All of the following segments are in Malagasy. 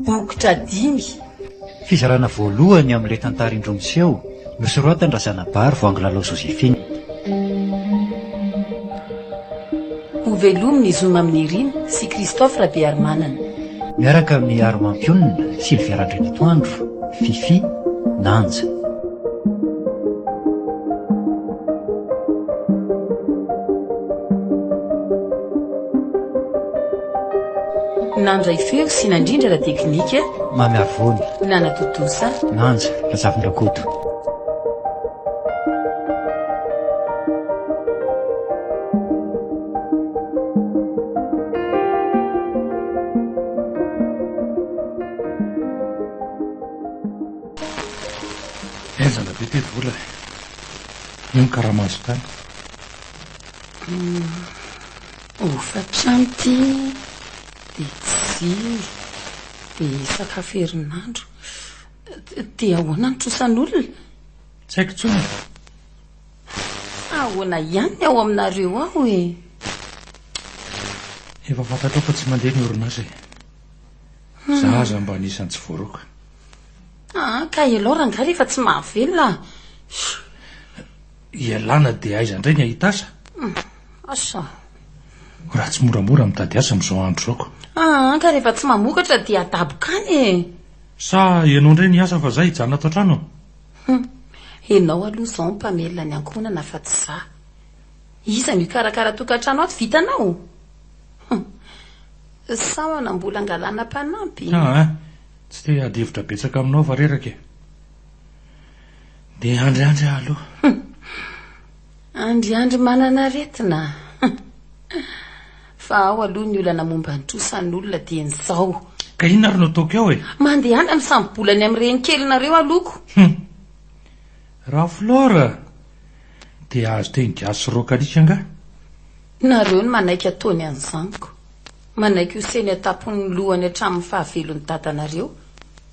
Bokotra dimy. Fizarana voalohany amin'ilay tantara indroa miseho, nosoratan'Razanabary Voangilalao Joséphine. Ho velomin'ny zo Mamy Nirina sy Christophe Rabearimanana. Miaraka amin'ny armampionona, Sylvia Randrianatoandro, Fifi, Nanja. Nandray feo sy nandrindra ara-teknika, Mamy Arivony. Nanatontosa. Nanja Razafindrakoto. Henjana be ty vola e! Io ny karama azo tany. Hofa-pianty dia jiro dia sakafo herinandro. Dia ahoana ny trosan'olona? Tsy haiko intsony e. Fa ahoana ihany ny ao aminareo ao e? Efa fantatrao fa tsy mandeha ny orinasa e. Za aza mba anisan'ny tsy voaroaka. Ah, ka ialahy rangahy rehefa tsy mahavelona ah. Ialana dia aiza indray ny ahita asa? Ah, asa? Raha tsy moramora mitady asa amin'izao andro izao ko. Ah, ka rehefa tsy mamokatra dia adaboka any e! Sa ianao indray ny asa fa za hijanona ato an-trano? Hum, ianao aloha izao no mpamelona ny ankohonana fa tsy za. Iza no hikarakara tokantrano ato vita anao? Hum, sa manam-bola angalana mpanampy? Ah, tsy te-hady hevitra betsaka aminao aho fa reraka e! Dia andriandry aho aloha. Hum. Andriandry manan'aretina. Hum. Fa ao aloha ny olana momba ny trosan'olona dia ny zao. Ka inona ary no ataoko eo e? Mandehana misambo-bola ny amin'ny renin-kelinareo alohako. Hum. Raflora! Dia azo teny gasy sy rokalika angaha? Nareo no manaiky ataony an'i zaniko. Manaiky ho seny an-tampon'ny lohany hatramin'ny fahavelon'i dadanareo.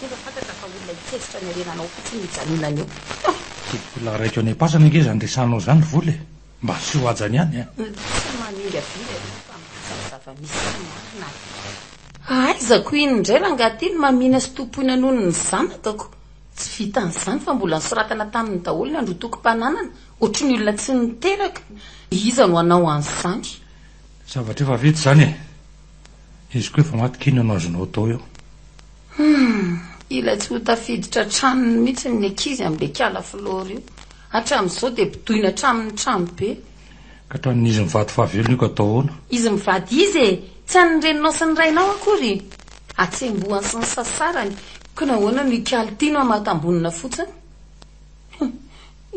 Nefa fantatra fa olona hikevitra ny harenanao fotsiny io Janona io. Bola raiko any am-pasana ange izany resahanao izany ry Vola e! Mba asio haja ny any an! Tsy manenga vina ianao fa milaza ny zava-misy sy ny marina an! Hahaizako iny indray rangaha ty ny mamina sy tompoina noho ny zanakako. Tsy vitan'izany fa mbola nosoratana taminy daholo ny androtokom-pananana, ohatry ny olona tsy niteraka. Iza no hanao an'izany? Zavatra efa vita izany e! Izy koa efa maty k'inona no azonao atao eo? Humm! Ilay tsy ho tafiditra tranony mihitsy ny ankizy amin'ilay kala flore io. Hatramin'izao dia bodoina hatramin'ny trano be. Ka tranon'izy mivady fahavelony io ka atao ahoana? Izy mivady iza e? Tsy an'ny reninao sy ny rainao akory? Atsembohany sy ny sasarany, koa nahoana no hikali-tino hamatam-bonina fotsiny? Humm!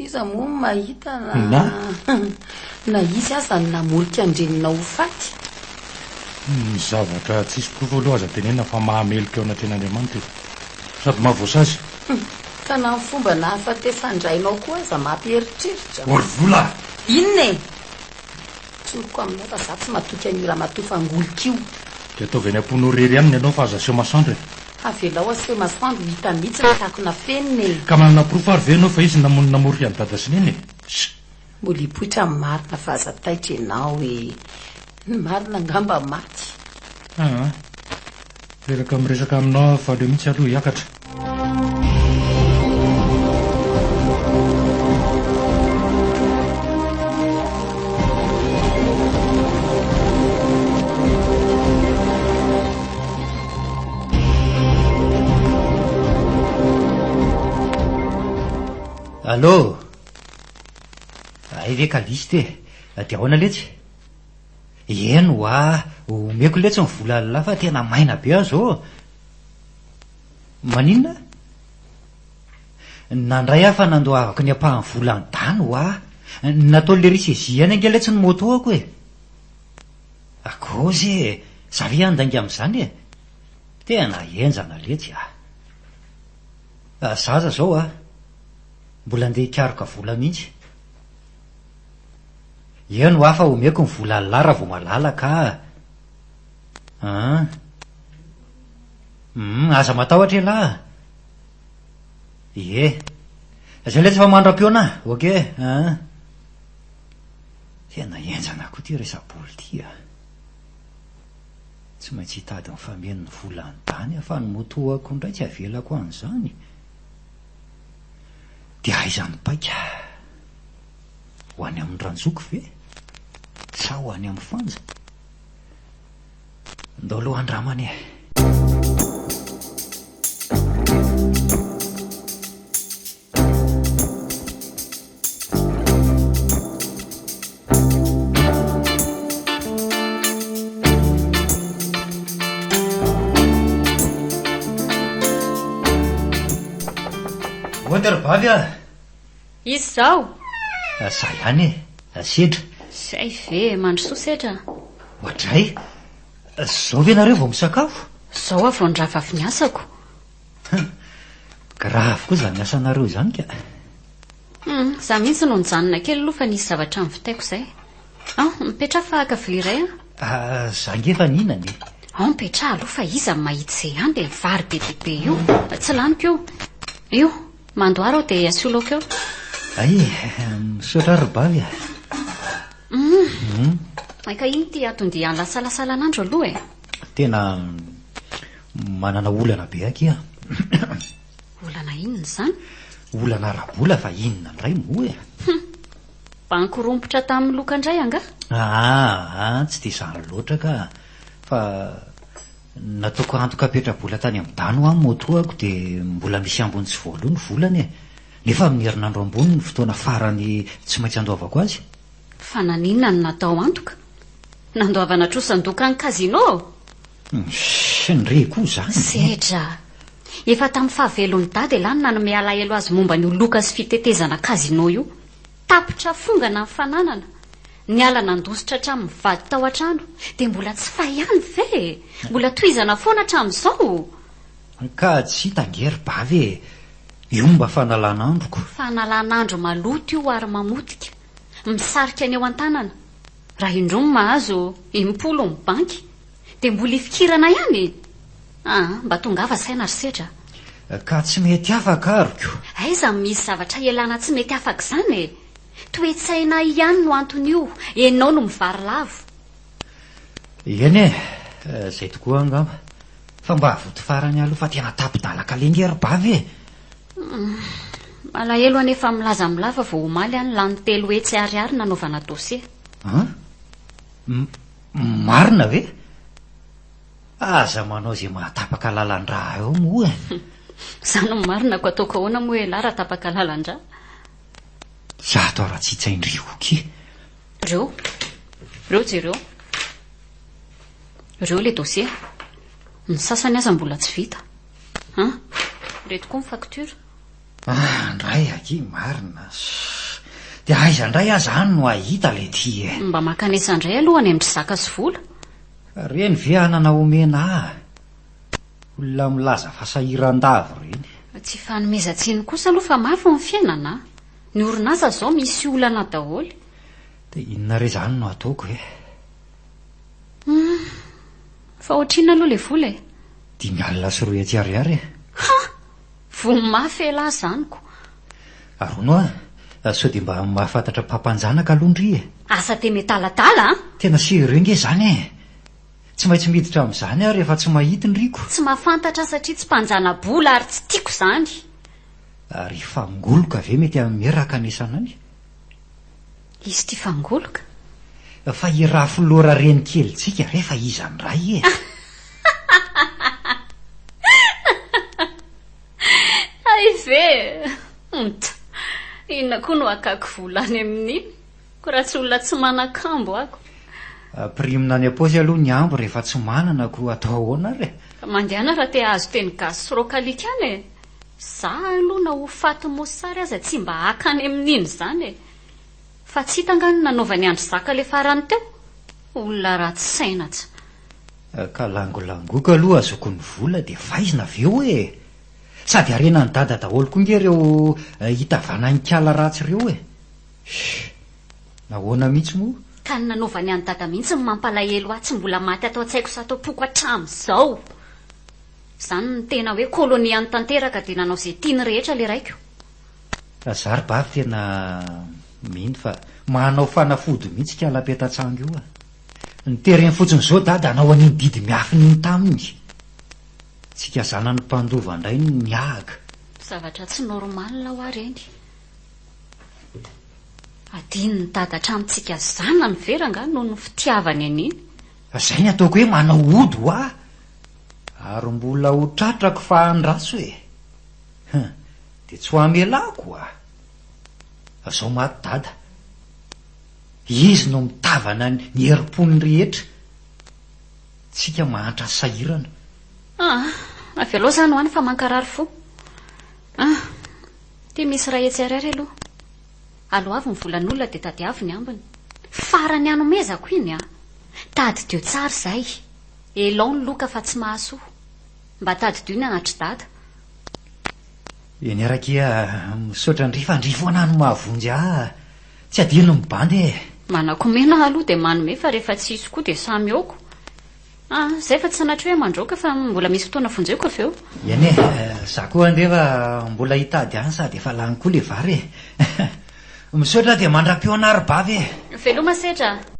Iza moa no mahita na na izy aza no namolika an-dreniny ho faty? Ny zavatra tsisy porofo aloha aza tenenina fa mahameloka eo anatrehan'Andriamanitra e! Sady mahavoasazy. Ka na ny fomba nahafatesan-drainao koa aza mampieritreritra. Orvola! Inona e? Tsoriko aminao fa za tsy matoky an'io ramatoa fangolika io. Dia ataovy any am-ponao rery any ny anao fa aza aseho masoandro e. Avelao aseho masoandro ho hita mihitsy ny tiako nafenina e. Ka manana porofo ary ve ianao fa izy no namono namorika an'i dada sy neny e? Sh! Mbola hipoitra ny marina fa aza taitra ianao e. Ny marina angamba maty. Aa. Reraka miresaka aminao aho fa aleo mihitsy aloha hiakatra. Allô! Hay ve Callixte e! Dia ahoana letsy? Eny wa, omeko letsy ny vola llah fa tena maina be aho zao. Maninona? Nandray aho fa nandoavako ny ampahan'ny volan'i Dan wa. Nataon'le ry Sezi ihany ange letsy ny moto-ako e. Akôzy e, za ve handainga amin'izany e? Tena henjana letsy a. Za aza zao a, mbola ndeha hikaroka vola mihitsy. Eo no hafa omeko ny vola an'lah raha vao malalaka ah! An! Hum! Aza matahotra elah ah! Ie! Izay ilay tsy efa mandram-pihaona ah! Ok an! Tena henjana koa ity resa-bola ity ah! Tsy maintsy hitady mifameno ny vola any Dany aho fa ny moto-ako indray tsy avelako an'izany! Dia aiza ny paika? Ho any amin'ny ranjoko ve? Sa ho any amin'ny fanja? Ndao aloha handramana e! Ohatra ry Bavy a! Izy izao? Za ihany e! Sedra. Zay ve e! Mandrosoa Sedra a! Oadray! Zao ve nareo vao misakafo? Zao aho vao nirava avy niasako. Hum! Grave koa izany asanareo izany ka! Hum! Za mihitsy no nijanona kely aloha fa nisy zavatra nivitaiko zay. An! Mipetraha fa haka vilia iray an! Ah! Za nge efa nihinana e! An! Mipetraha aloha fa iza no mahita izay an! Dia vary be dia be io! Tsy laniko io! Io! Mandoara aho dia asio laoka eo. Ay, misaotra ary Bavy a. Hum. Ay ka iny ty ato dia alasalasalan'andro aloha e. Tena manana olana be akia. Olana inona izany? Olana ara-bola fa inona indray moa e? Hum. Banky rompotra tamin'ny loka indray angaha? Ah, ah, tsy dia izany loatra ka. Fa Nataoko antoka petra-bola tany amin'ny dano aho moa toa ko dia mbola misy ambiny tsy voaloa ny volany e! Nefa amin'ny herinandro ambony no fotoana farany tsy maintsy andoavako azy. Fa naninona no natao antoka? Nandoavana trosan-doka an'ny casino aho? Hum, re koa izany! Sedra! Efa tamin'ny fahavelon'i Dada elah no nanome alahelo azy momba an'io loka sy fitetezana casino io. Tapitra fongana ny fananana, niala nandositra hatramin'ny mivady tao an-trano, dia mbola tsy fay ihany ve e! Mbola tohizana foana hatramin'izao! An-kady sy Tangier ba ve e! Io mba fanalan'androko! Fanalan'andro maloto io ary mamotika, misarika ny eo an-tanana, raha indroa no mahazo impolo ny banky! Dia mbola hifikirana ihany e! Aa, mba tongava saina ry Sedra a! Ka tsy mety afaka ary ko! Aiza no misy zavatra ialana tsy mety afaka izany e! Toe-tsaina ihany no anton'io, enao no mivarilavo. Eny e! Izay tokoa angamba. Fa mba avoty farany aloha fa tena tapi-dalaka lenge ry Bavy e! Aa, malahelo anie fa milaza amin'ny lava vao omaly an, lany telo hetsy ariary nanaovana dossier. An? Marina ve? Aza manao izay mahatapaka lalan-dra eo moa e! Izaho no marina ko ataoko ahoana moa ialahy raha tapaka lalan-dra? Izato ary atsitsain-dry Oky. Reo. Reo jereo. Reo ilay dossier. Ny sasany aza mbola tsy vita. An? Ireto koa ny facture. Ah ndray aky marina shh de aiza ndray aza any no ahita le ty e. Mba mankanesa ndray aloha any amindry zaka sy vola. Reny ve anana omena ah? Olona milaza fa sahirandavo reny. Tsy fanomezan-tsiny kosa aloha fa mafy ny fiainana a! Ny orinasa izao misy olana daholo. Dia inona re izany no ataoko e? Hum! Fa ohatrinona aloha ilay vola e? Dimy alina sy roa hetsy ariary e! Ha! Vono mafy elah zaniko. Aronoa a! Sao dia mba mahafantatra mpampanjanaka aloha ndry e! Asa te metalatala a! Tena sérieux nge zany e! Tsy maintsy miditra amin'izany aho rehefa tsy mahita ny riko. Tsy mahafantatra satria tsy mpanjana-bola ary tsy tiako izany. Ary fangoloka ve mety hameraka ny sanany? Izy ty fangoloka? Fa i Rafolora renikelintsika re fa iza ndray e? Hay ve? Hunt! Inona koa no hakako vola any amin'iny? Ko raha tsy olona tsy manan-kambo ako. Prime-na any am-paosy aloha ny ambo rehefa tsy manana ko atao ahoana ary e? Ka mandehana raha te hahazo teny gasy sy rocalique any e! Za aloha na ho faty mosary aza tsy mba haka any amin'iny izany e! Fa tsy hita angaha ny nanaovan'i Andry Zaka le farany teo? Olona ratsy saina tsa. Ka langolangoiko aloha azoko ny vola dia vaizina avy eo e! Sady harenan'i Dada daholo koa nge reo hitavana hinkala ratsy reo e! Shhh! Nahoana mihitsy moa? Ka ny nanaovan'i an'i Dada mihitsy no mampalahelo ahy tsy mbola maty ato an-tsaiko sy ato am-poko hatramin'izao! Zany no tena hoe koloniany tanteraka dia nanao ze tiany rehetra le raiko! Fa za ry Bavy tena mino fa manao fanafody mihitsy ikala petatsangy io a! Ny tereny fotsiny zao Dada hanao an'iny didy miafina iny taminy! Tsika zanany mpandova indray no niahaka! Zavatra tsy normal hoa reny! Adinon'i Dada hatramin'ny tsika zanany very angaha noho ny fitiavany an'iny! Fa zay ny ataoko hoe manao ody hoa! Ary mbola ho tratrako fa handraso e! Hum, dia tsy ho hamelako oa! Zao maty dada. Izy no mitavana ny herim-pony rehetra. Tsika mahantra sahirana. Ah, avelao izany ho any fa mankarary fo. Ah, ity misy iray etsy ariary aloha. Aloavy ny volan'olona dia tadiavo ny ambiny. Farany hanomezako iny ah. Tadidio tsara izay. Elao ny loka fa tsy mahasoa. Mba tadidio ny anatry dada. Eny ary akia Misaotra an-dry fa an-dry foana no mahavonjy ahy Tsy adino ny bandy e. Manakomena aho aloha dia manome fa rehefa tsy hisy koa dia samy aoko a zay fa tsy sanatria hoe mandroaka fa mbola misy fotoana vonjeko avy eo. Eny e, za koa andefa mbola hitady any sady efa lany koa le vary e. Misaotra dia mandram-peo anaribavy e. Veloma setra a.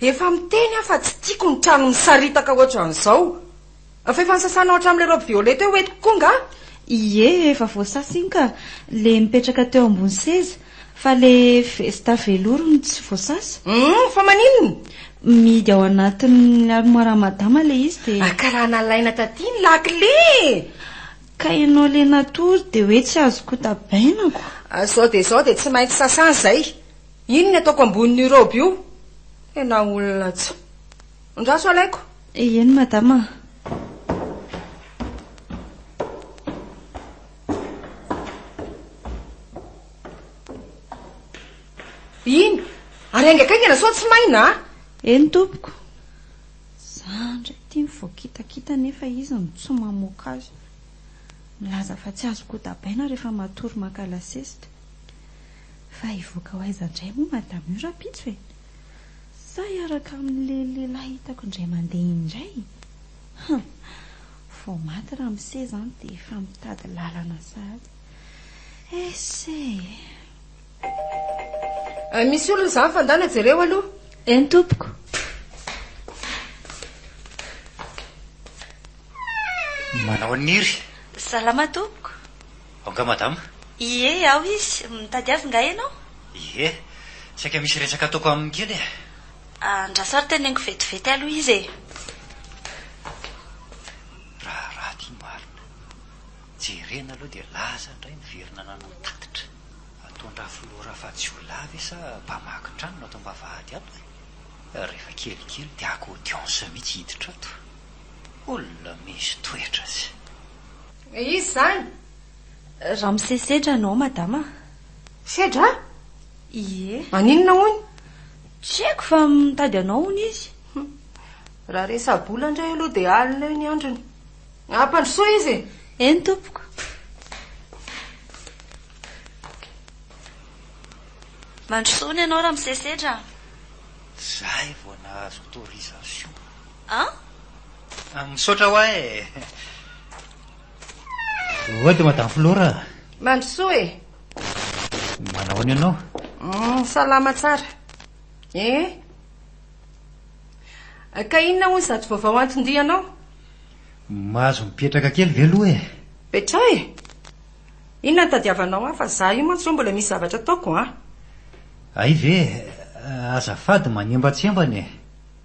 Efa miteny aho fa tsy tiako ny trano misaritaka ohatran'izao. Fa efa nosasanao hatramin'ilay robe violet teo hoentiko koa angaha? Ie, efa voasasa iny ka, ilay mipetraka teo ambony seza. Fa ilay vesta velours no tsy voasasa. Humm, fa maninona? Mihidy ao anatin'ny armoire-n'i Madama ilay izy dia. Ah, ka raha nalaina taty ny lakile e! Ka ianao ilay natory dia hoe tsy azo kotabainako. Izao dia izao dia tsy maintsy sasana izay. Inn ataoko ambonin'io robe io? Tena olona tsy. Andraso alaiko. Eny madama. Inn, ary haingankaingana sao tsy maina a! Eny tompoko. Za ndray ity ny voakitakita nefa izy no tsy mamoaka azy. Milaza fa tsy azo kodabaina rehefa matory maka lasesita. Fa hivoaka ho aiza indray moa madame io rahampitso e? Sa hiaraka amin'ilay lehilahy hitako indray mandeha iny indray? Hum! Vao maty ramose izany dia efa mitady lalana sahady. Esse e! Misy olona izany fa ndana jereo aloha. Eny tompoko. Manao an'iry. Salama tompoko. Ao nga madama? Ie, ao izy. Mitady azy nga ianao? Ie, saika misy resaka ataoko aminy kely e. Andraso ary teneniko vetivety aloha izy e. Raharaha ity marina. Jerena aloha dia laza indray ny virina nanao tatitra. Ataon-dRafiloha Rafajiolahy ve sa mpamaky trano no ato am-bavahady ato e? Rehefa kelikely dia haka audience mihitsy hiditra ato. Olona misy toetra aza. Iza izany? Ramose Sedra no aho madama a! Sedra a? Ie. Maninona hono? Tsy haiko fa mitady anao hono izy. Raha resa-bola indray aloha dia alina eo ny androny. Ampandrosoy izy e! Eny tompoko. Mandrosoa hono ianao Ramose Sedra a! Zay vao nahazo autorisation. An? Misaotra hoa e! Oa dia Madame Flora. Mandrosoa e! Manahoana ianao? Salama tsara. Eh? Ka inona hoy izato vaovao anton-dianao? Mahazo mipetraka kely ve aloha e? Petraha e! Inona no tadiavanao ahy fa izaho io mantsy hoe mbola misy zavatra ataoko an! Hay ve? Azafady manembatsembana e!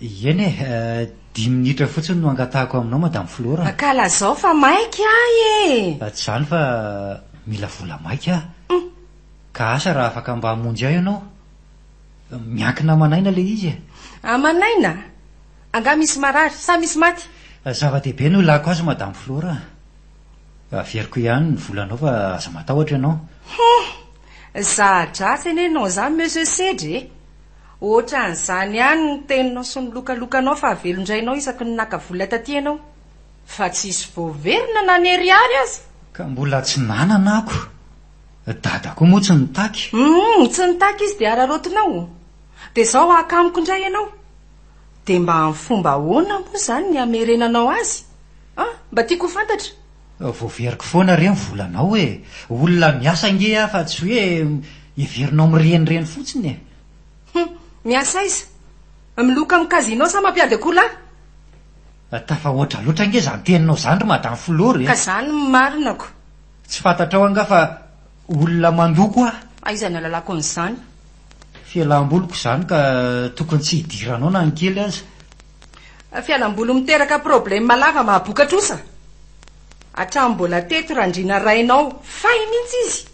Eny e, dimy minitra fotsiny no angatahako aminao Madame Flora a! Ka lazao fa maika ahy e! Tsy izany fa mila vola maika aho. Humm! Ka asa raha afaka mba hamonjy ahy ianao? Miankina aman'aina ilay izy e! Aman'aina? Angaha misy marary sa misy maty? Zava-dehibe no ilàko azy Madame Flora a! Averiko ihany ny volanao fa aza matahotra ianao. Humm! Za-dratsy anie non za Monsieur Sedry e! Ohatran'izany ihany ny teninao sy ny lokalokanao fa velon-drainao isaky ny naka vola taty ianao. Fa tsisy voaverina na ny ariary aza! Ka mbola tsy nanana ako. Dada koa moa tsy nitaky. Humm tsy nitaky izy dia araraotinao? Dia zao haka amiko indray ianao? Dia mba amin'ny fomba ahoana moa izany ny hamerenanao azy? An! Mba tiako ho fantatra. Voaveriko foana re ny volanao e! Olona miasa ange aho fa tsy hoe heverinao mirenireny fotsiny e! Hum! Miasa aiza? Miloka amin'ny casino sa mampiady akoholahy? Tafahoatra loatra ange izany teninao izany ry Madame Floro e! Ka izany no marinako! Tsy fantatrao angaha fa olona mandoko aho? Aiza ny ahalalako an'izany? Fialam-boliko izany ka tokony tsy hidiranao na ny kely aza! Fialamboly miteraka probleme lava mahaboka trosa hatramin'ny mbola teto randriana rainao fay mintsy izy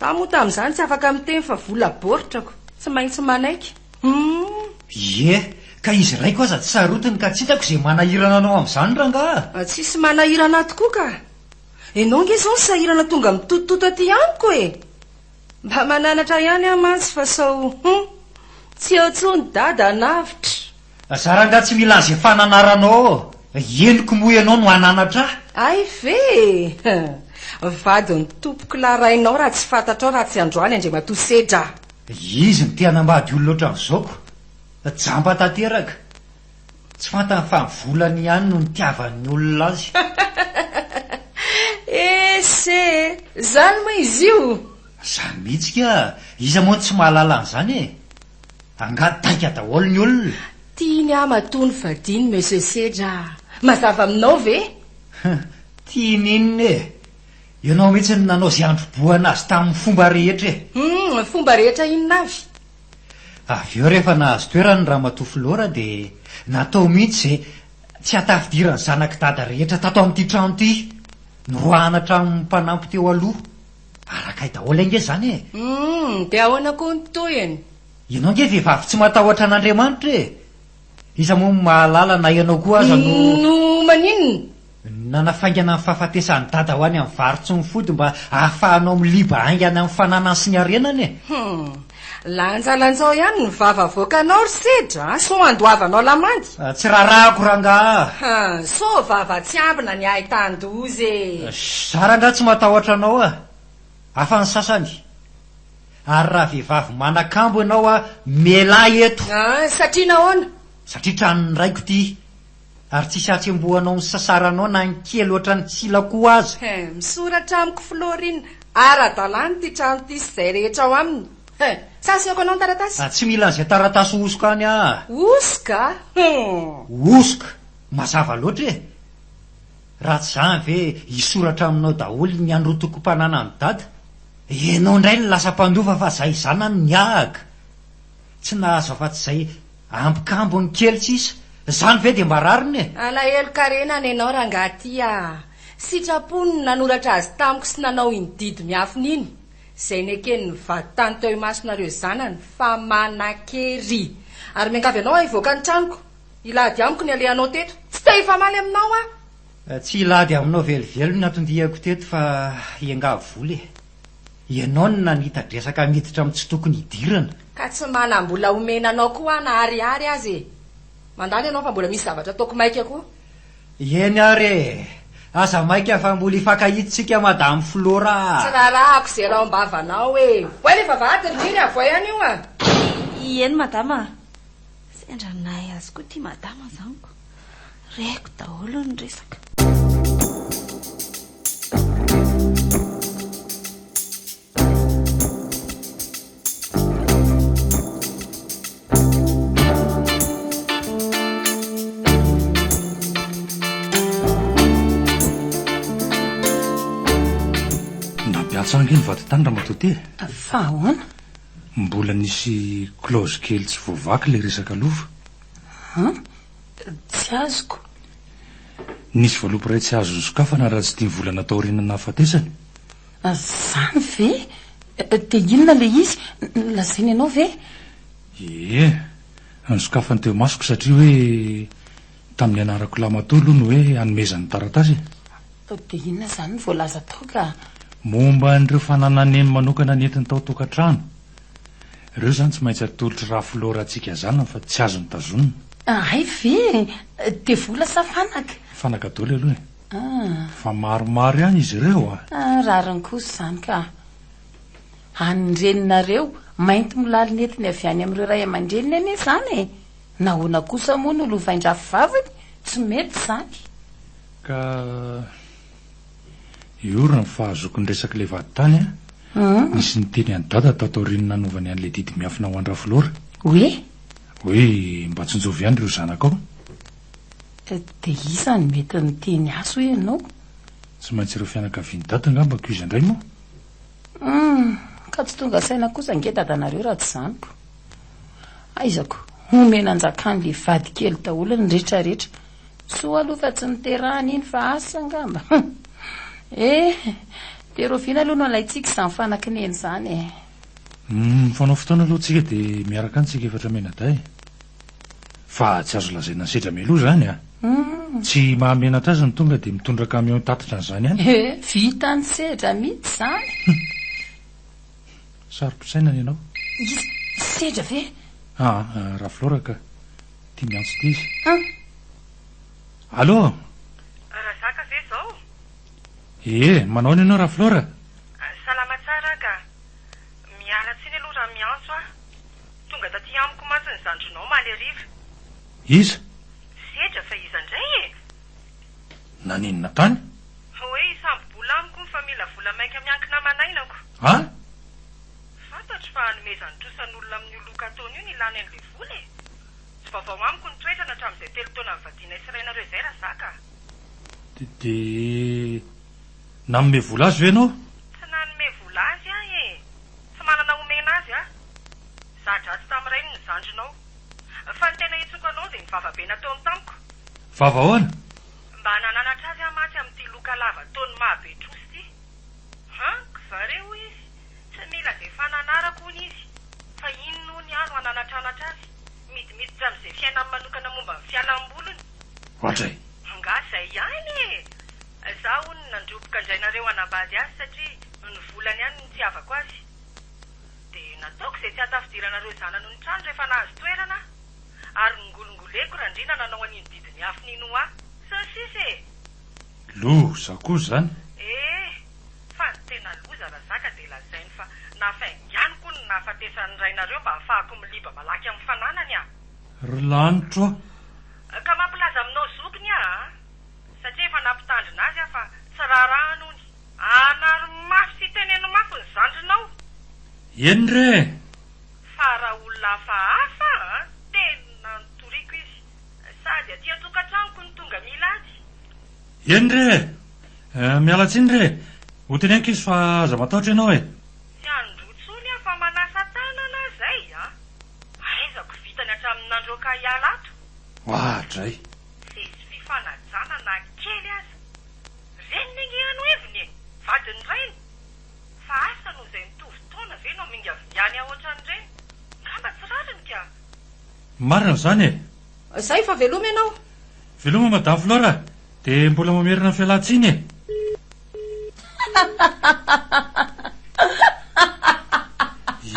za moa tamin'izany tsy afaka miteny fa vola boritrako tsy maintsy manaiky humm. Ie, ka izy raiko aza tsy sarotiny ka tsy hitako izay manahirana anao amin'izany rangaha a! Tsisy manahirana ahy tokoa ka! Enao nge izao ny sahirana tonga mitotototo aty amiko e! Mba mananatra ihany aho mantsy fa sao hum! tsy eo tsony dada hanavotra. Za rangah tsy mila anze fananaranao ao henoko moa ianao no hananatra ahy. Ay ve e! vadiny tompoko lahy rainao raha tsy fantatrao raha tsy androany Andriamatoa Sedra a! Izy no te hanambady olona ohatran'izao ko! Jamba tanteraka! Tsy fantany fa ny volany ihany no nitiavan'ny olona azy. Ese e! Zany moa izy io? Zany mihitsy ka! Iza moa no tsy mahalala an'izany e! Angaha taika daholo ny olona? Tiany aho matoa no vadiany Monsieur Sedra a! Mazava aminao ve? Hum! Tiany inona e! Ianao mihitsy no nanao izay handrobohana azy tamin'ny fomba rehetra e! Hum! Fomba rehetra inona avy? Avy eo rehefa nahazo toerana ny ramatoa Flora dia natao mihitsy izay tsy hatafidiran'ny zanak'i Dada rehetra tato amin'ity trano ity. Noroahana hatramin'ny mpanampy teo aloha. Arakay daholo ange izany e! Humm, dia ahoana koa ny tohiny? Ianao ange vehivavy tsy matahotra an'Andriamanitra e! Iza moa no mahalala na ianao koa aza no. No maninona? Nanafaingana ny fahafatesan'i Dada ho any amin'ny varotsy ny fody mba ahafahanao miliba haingana ny fananany sy ny harenany e! Hum! Lanjalanjao ihany ny vava avoakanao ry Sedra a! Sao handoavanao lamandy? Tsy raharahako rangaha a! Ha! Sao vava tsy ambina ny ahy tan-doza e! Za rangaha tsy matahotra anao a! Hafa ny sasany. ary raha vehivavy manakambo ianao a mialà eto. Ah, satria nahoana? Satria tranon'ny raiko ity, ary tsisy hatsembohanao ny sasaranao na ny kely ohatran'ny tsilakoho aza. He, misoratra amiko Florin, ara-dalàna ity trano ity sy izay rehetra ao aminy. He, sa asehoko anao ny taratasy? Ah, tsy mila an'izay taratasy hosoka any ah. Hosoka? Hum. Hosoka? Mazava loatra e! Raha tsy zany ve hisoratra aminao daholo ny anrotokom-pananan'i Dada? Ianao indray no lasa mpandofa fa zay zanany niahaka tsy nahazo afa-tsy izay ambikambony kely sisa. Zany ve dia mba rariny e? Alahelo karena ny anao rangaha ty a! Sitrapony ny nanoratra azy tamiko sy nanao iny didy miafina iny, izay nekeny nivady tany teo imasonareo zanany fa manan-kery. Ary miangavy anao ahivoaka ny tranoko. Hilady amiko ny alehanao teto. Tsy te hifamaly aminao aho. Tsy hilady aminao velively no natondihako teto fa hiangavy vola e. Ianao no nanita-dresaka miditra amin'ny tsy tokony hidirana. Ka tsy manam-bola omena anao koa aho na ariary aza e. Mandany ianao fa mbola misy zavatra ataoko maika koa. Eny ary e. Aza maika fa mbola hifankahita isika Madame Flora a. Tsy rarahako izay raom-bavanao e. Oay le vavahady ry Niry avoay any io a. Ieny Madama a. Sendra nahay azy koa ity madama zany ko. Reko daholo ny resaka. Nampiantso ange ny vaditany Ramatoa Tea. Fa ahoana? Mbola nisy clause kely tsy voavaky ilay resaka lova. An? Tsy azoko. Nisy valopy iray tsy azo nosokafana raha tsy dimy volana taorian'ny nahafatesany. Izany ve? Dia inona ilay izy? Lazainy anao ve? Ie. Nosokafany teo masoko satria hoe. Tamin'ny nianarako lahy matoa aloha ny hoe hanomezany taratasy e! Fa dia inona izany no voalaza tao ka? Momba an'ireo fananan'eny manokana nentiny tao an-tokantrano. Ireo izany tsy maintsy atolotr'i Rafilô Ratsika zanany fa tsy azony tazonina. Hay ve? Dia vola sa fanaka? Fanaka daholo aloha e! Fa maromaro ihany izy ireo a! Rariny kosa izany ka! An'ny reninareo, mainty molalo nentiny avy any amin'ireo ray aman-dreniny anie izany e! Nahoana kosa moa no lovain-drafy vaviny? Tsy mety izany. Ka hiorina ny fahazoakon-dresak'ilay vadintany an! Nisy niteny an'i Dada tato aorian'ny nanaovany an'ilay didy miafina ho an-dRafolora. Hoe? Hoe mba tsinjovy ihany ireo zanakao. Dia iza no mety niteny azy hoe ianao? Tsy maintsy ireo fianakavian'i Dada angamba koa izy indray moa? Humm! Ka tsy tonga saina kosa ange dadanareo raha tsy izany ko! Aizako! Homena anjakan'le vadikely daholo ny retraretra! Soa aloha fa tsy niterahany iny fa asa angamba! Humm! Eh! De roviana aloha no alaintsika izany fanaky neny izany eh! Humm! Mifanao fotoana aloha tsika de miaraka any tsika efatra mianadahy! Fa tsy azo lazaina sedra Melo izany a! Tsy mahamenatra azy ny tonga dia mitondra camion hitatitra an'izany any. He, vita ny sedra mihitsy izany. Saro-pisainana ianao. Iza? Sedra ve? Aa, Rafilaoraka. Tia miantso ity izy. An! Allo! Razaka ve izao? Ee, manaona ianao Rafilaora? Salama tsara aho ka. Miala tsiny aloha raha miantso aho. Tonga taty amiko mantsy ny zandrinao omaly hariva. Iza? Sedra fa iza indray e! Naninona tany? Hoe hisambo-bola amiko fa mila vola mainka miankina aman'ainako. An? Fantatro fa hanomezany trosa ny olona amin'io loka ataony io ny ilany an'ilay vola e! Tsy vaovao amiko ny toetrany hatramin'izay telo taona nivadianay sy rainareo izay Razaka a! Dia. Nanome vola azy ve ianao? Tsy nanome vola azy aho e! Tsy manana omena azy aho. Za-dratsy tamin'ny rainy ny zandrinao. Fa ny tena hitsoka anao dia ny vavabe nataony tamiko. Vava ahoana? Mba nananatra azy aho mantsy amin'ity loka lava toan'ny maha-betrosa ity. Hank va re hoy izy? Tsy mila izay fananarako hono izy. Fa inona hono aho no hananatranatra azy? Midimiditra amin'izay fiainany manokana momba ny fialam-bolony. Ohatray. Angaha izay ihany e! Za hono nandroboka indray nareo hanambady azy satria ny volany ihany no nitiavako azy. Dia nataoko izay tsy hahatafidiranareo zana noho ny trano rehefa nahazo toerana aho. Ary nongolongoleko Randriana nanao an'iny didin'ny afony iny ho ahy. Sy ny sisa e! Lo, za koa izany. Eh! Fa ny tena loza raha zaka dia lazainy fa nafainganiko ny nahafatesan'ny rainareo mba hahafahako miliba malaky amin'ny fananany aho. Ry lanitro a! Ka mampilaza aminao zokiny aho a! Satria efa nampitandrina azy aho fa tsy raharahany hono. Anaro mafy sy teneno mafy ny zandrinao! Eny re e! Fa raha olona hafahafa a! Tena notoriako izy. Sady aty an-tokantranoko no tonga milady. Eny re e! Miala tsiny re e! Ho teneniko izy fa aza matahotra ianao e! Tsy handoa tsony aho fa manasa tanana aho zay a! Aizako vitany hatramin'ny nandroaka ahy hiala ato! Wah dray! Sesy fifanajana na kely aza! Reniny ange any ho heviny e! Vadin'ny rainy! Fa asa noho izay mitovy taona ve no mingavingany aohatran'ireny? Ngamba tsy rariny ka! Marina izany e! Zay fa veloma ianao. Veloma Madame Flora a! Dia mbola mamerina ny fialan-tsiny e!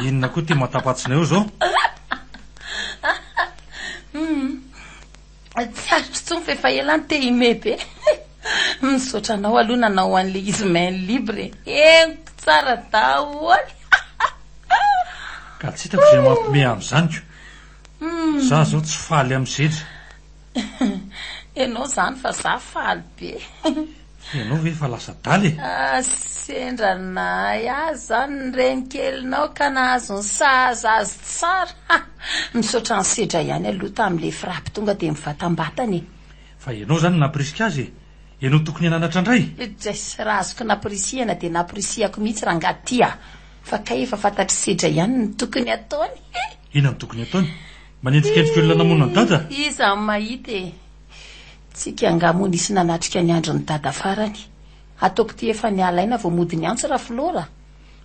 Inona koa ity matapatsina eo izao? Humm, tsy azoko intsony fa efa ela aho te hime be. Misaotra anao aloha nanao an'ilay izy main libre e. Henoko tsara daholo. Ka tsy hitako izay mampime amin'izany ko. Za zao tsy faly am zetra. Enao zany fa za faly be. Enao ve efa lasa adala e. Ah sendra nahay azy zany ny renikelinao ka nahazo ny sahaza azy tsara ha. Misaotra an'i Sedra ihany aloha tamin'ilay frappe tonga dia mivatambatana e. Fa enao zany nampirisika azy e. Enao tokony hananatra ndray. Drais, raha azoko nampirisihana dia nampirisihako mihitsy rangah ty ah. Fa kay efa fantatr'i Sedra ihany ny tokony ataony. Inona no tokony ataony? Manenjikenjika olona namono an'i Dada? Iza no mahita e? Tsika angaha moa nisy nanatrika ny andron'i Dada farany? Ataoko ity efa nialaina vao mody ny antsy Rafiloha a!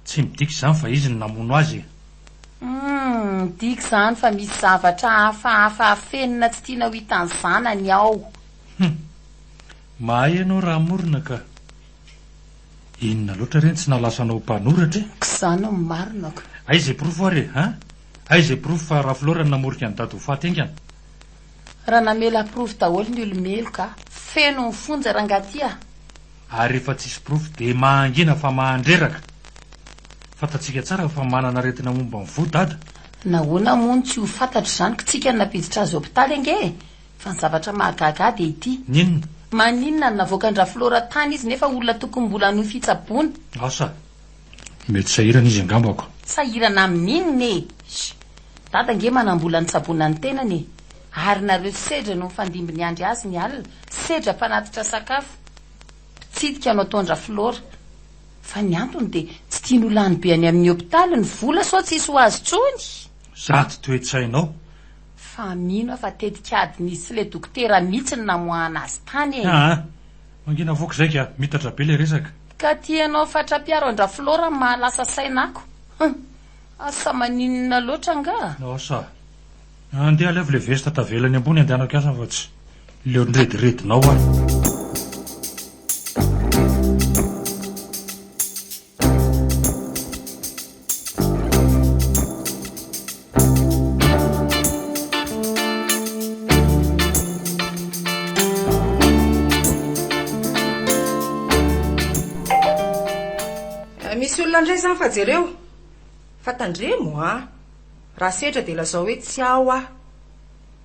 Tsy midika izany fa izy no namono azy e! Humm, midika izany fa misy zavatra hafahafa afenina tsy tiana ho hitan'ny zanany ao! Humm! Mahay ianao Ramorona ka! Inona loatra re ny tsy nalasa anao ho mpanoratra e? K'izany no marina ko. Aiza e porofo ary e? Hein? Aiza e porofo fa Rafolora no namorika an'i Dada ho faty haingana? Raha namela porofo daholo ny olo-meloka, feno ny fonja rangahy ty a! Ary rehefa tsisy porofo dia mahangina fa mahandreraka. Fantatsika tsara fa manana aretina momba ny fo Dada. Nahoana moa no tsy ho fantatro izany k'tsika no nampiditra azy hopitaly ange e? Fa ny zavatra mahagaga ahy dia ity. Ny inona? Maninona no navoakan-dRaflora tany izy nefa olona tokony mbola hanohy fitsaboana? Asa. Mety sahirana izy angambako. Sahirana amin'ny inona e? Sh! Dada ange manam-bola nitsaboana ny tenany e! Ary nareo sedra no mifandimby niandry azy ny alina, sedra mpanatitra sakafo. Mpitsidika no ataon-dRaflora. Fa ny antony dia tsy tiany ho lany be any amin'ny hopitaly ny vola sao tsisy ho azy intsony! Zato toe-tsainao! Fa mino aho fa tetik'ady nisy le dokotera mitsy no namoahana azy tany e! Aa! Mangina voky zay ka! Mitatra be le resaka! Ka ty ianao fatra-piaro an-dRaflora no mahalasa saina ako! Hum! Asa maninona loatra angaha? Asa! Andeha alevo le veste tavela eny ambony andehanako hiasa fa tsy leo nirediredinao aho! Misy olona indray izany fa jereo fa tandremo a! Raha sedra dia lazao hoe tsy ao aho.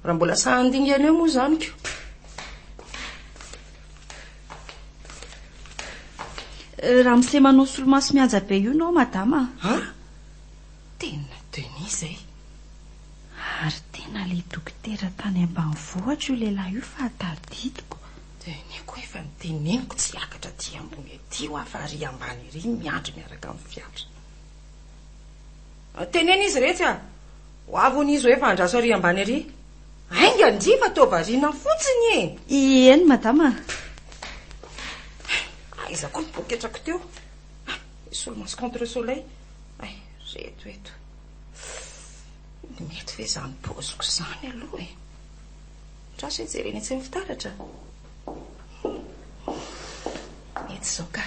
Raha mbola sahy handingana eo moa izany ko. Ramose manao solomaso mihaja be io no madama a! Ah! Tena Denis zay! Ary tena le dokotera tany ambanivohitra io lehilahy io fa tadidiko. Denis koa efa noteneniko tsy hiakatra aty ambony aty hoa fa ary ambany ery miandry miaraka amin'ny fiara. Teneno izy iretsy a! Ho avy hono izy hoe fa andraso ary ambany ery. Ainga ndry fa toa variana fotsiny e. Ieny madama a. Aiza koa ny poketrako teo. Solomaso contre soleil. Ay, reto eto. Mety ve izany paoziko izany aloha e. Andraso e jerena etsy amin'ny fitaratra. Mety izao ka.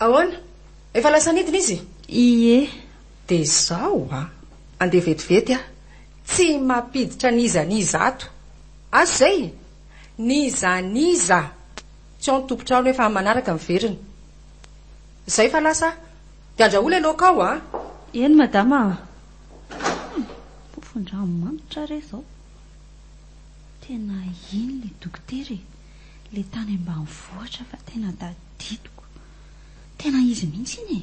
Ahoana? Efa lasa nidina izy? Ie. De zao a! Andeha vetivety a! Tsy mampiditra n'iza n'iza ato! Azo izay e! N'iza n'iza! Tsy ao ny tompon-trano efa amin'ny manaraka miverina. Izay fa lasa aho. De andrahoa ilay laoka ao a! Eny madama a! Humm! Pofon-dranomanitra re izao! Tena iny ilay dokotera e! Ilay tany ambanivohitra fa tena tadidiko! Tena izy mihitsy iny e!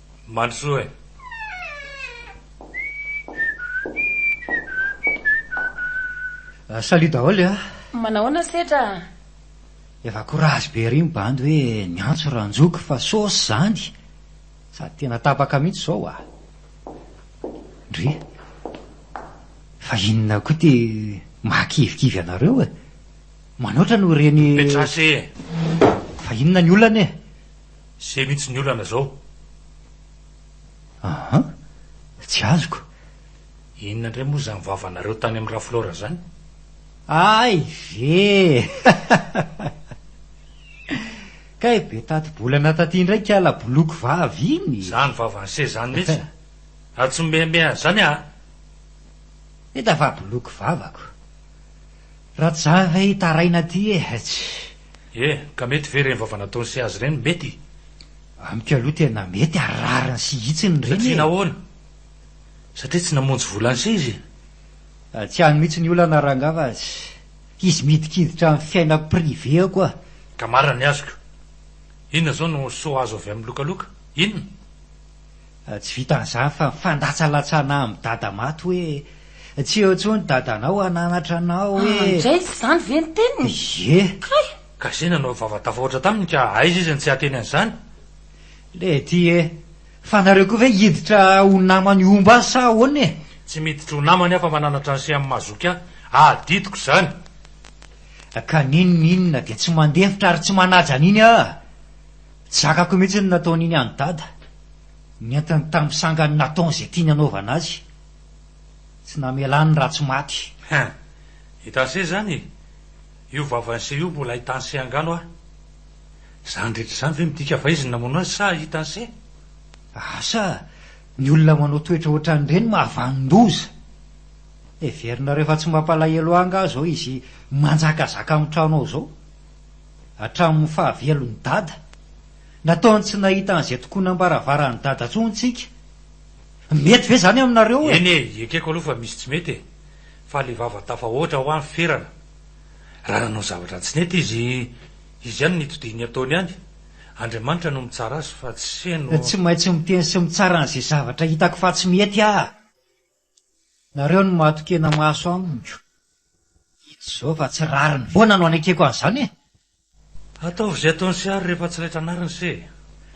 Mandrosoa e! Salut daholo e! Manahoana setra a! Efa courage be ery ny bandy hoe niantso Ranjoky fa sauce izany! Sady tena tapaka mihitsy izao a! Ndry! Fa inona koa ity mahakivikivy anareo e! Manoatra no reny. Petrace e! Fa inona ny olana e! Zay mintsy ny olana zao. Aha, tsy azoko. Inona indray moa izany vavanareo tany amin'i Raflora izany? Ay ve! Kay be tati-bolana taty indray kiala boloky vavy iny e! Izany vavan'i Sé izany mihitsy. Ary tsy mimeameaha an'izany aho. Hita fa boloky vavako. Rajava e hitaraina aty e hetsy. E, ka mety ve ireny vava nataony sy azy ireny? Mety? Amiko aloha tena mety ary rariny sy hitsiny ireny e! Satria nahoana? Satria tsy namonjy vola an'ise izy e! Tsy ihany mihitsy ny olana rangah fa izy midikiditra amin'ny fiainako privé-ako a! Ka marina ny azoko. Inona izao no soa azo avy amin'ny lokaloka? Inona? Tsy vitan'izany fa mifandatsalatsana amin'i Dada maty hoe, Tsy eo intsony Dadanao hananatra anao e! Ah, indray tsy izany ve ny teniny? Ie! Kay! Ka izay nanao vava tafahoatra taminy ka aiza izy no tsy hahateny an'izany? Lety e! Fa nareo koa ve hiditra ho namany omba azy sa ahoana e? Tsy miditra ho namany aho fa mananatra an'i Seha mazoky ahy. Adidiko izany! Ka n'inon'inona dia tsy mandefitra ary tsy manaja an'iny aho. Tsy zakako mihitsy ny nataon'iny an'i Dada, nentiny tamin'ny sangany nataony izay tiany hanaovana azy. Tsy namelany ny ratsy maty. Hein! I Tansy izany e! Io vavan'i Sey io mbola i Tansy angano a! Izany rehetra izany ve midika fa izy no namono azy sa i Tansy? Asa! Ny olona manao toetra ohatran'ireny mahavanon-doza! Heverinareo fa tsy mampalahelo ahy angaha izao izy manjakazaka amin'ny trano ao izao? Hatramin'ny fahavelon'i Dada. Nataony tsy nahita an'izay tokonam-baravaran'i Dada intsony tsika. Mety ve izany aminareo e? Eny e, ekeko aloha fa misy tsy mety e. Fa le vava tafahoatra hoa ny ferana. Raha nanao zavatra tsy nety izy, izy ihany no nitodihy ny ataony ihany. Andriamanitra no mitsara azy fa tsy heno. Tsy maintsy miteny sy mitsara an'izay zavatra hitako fa tsy mety aho. Nareo no mahatokena maso amiko. I Jehovah fa tsy rariny foana no anekeko an'izany e! Ataovy izay ataony sy ary rehefa tsy raitra anariny se e!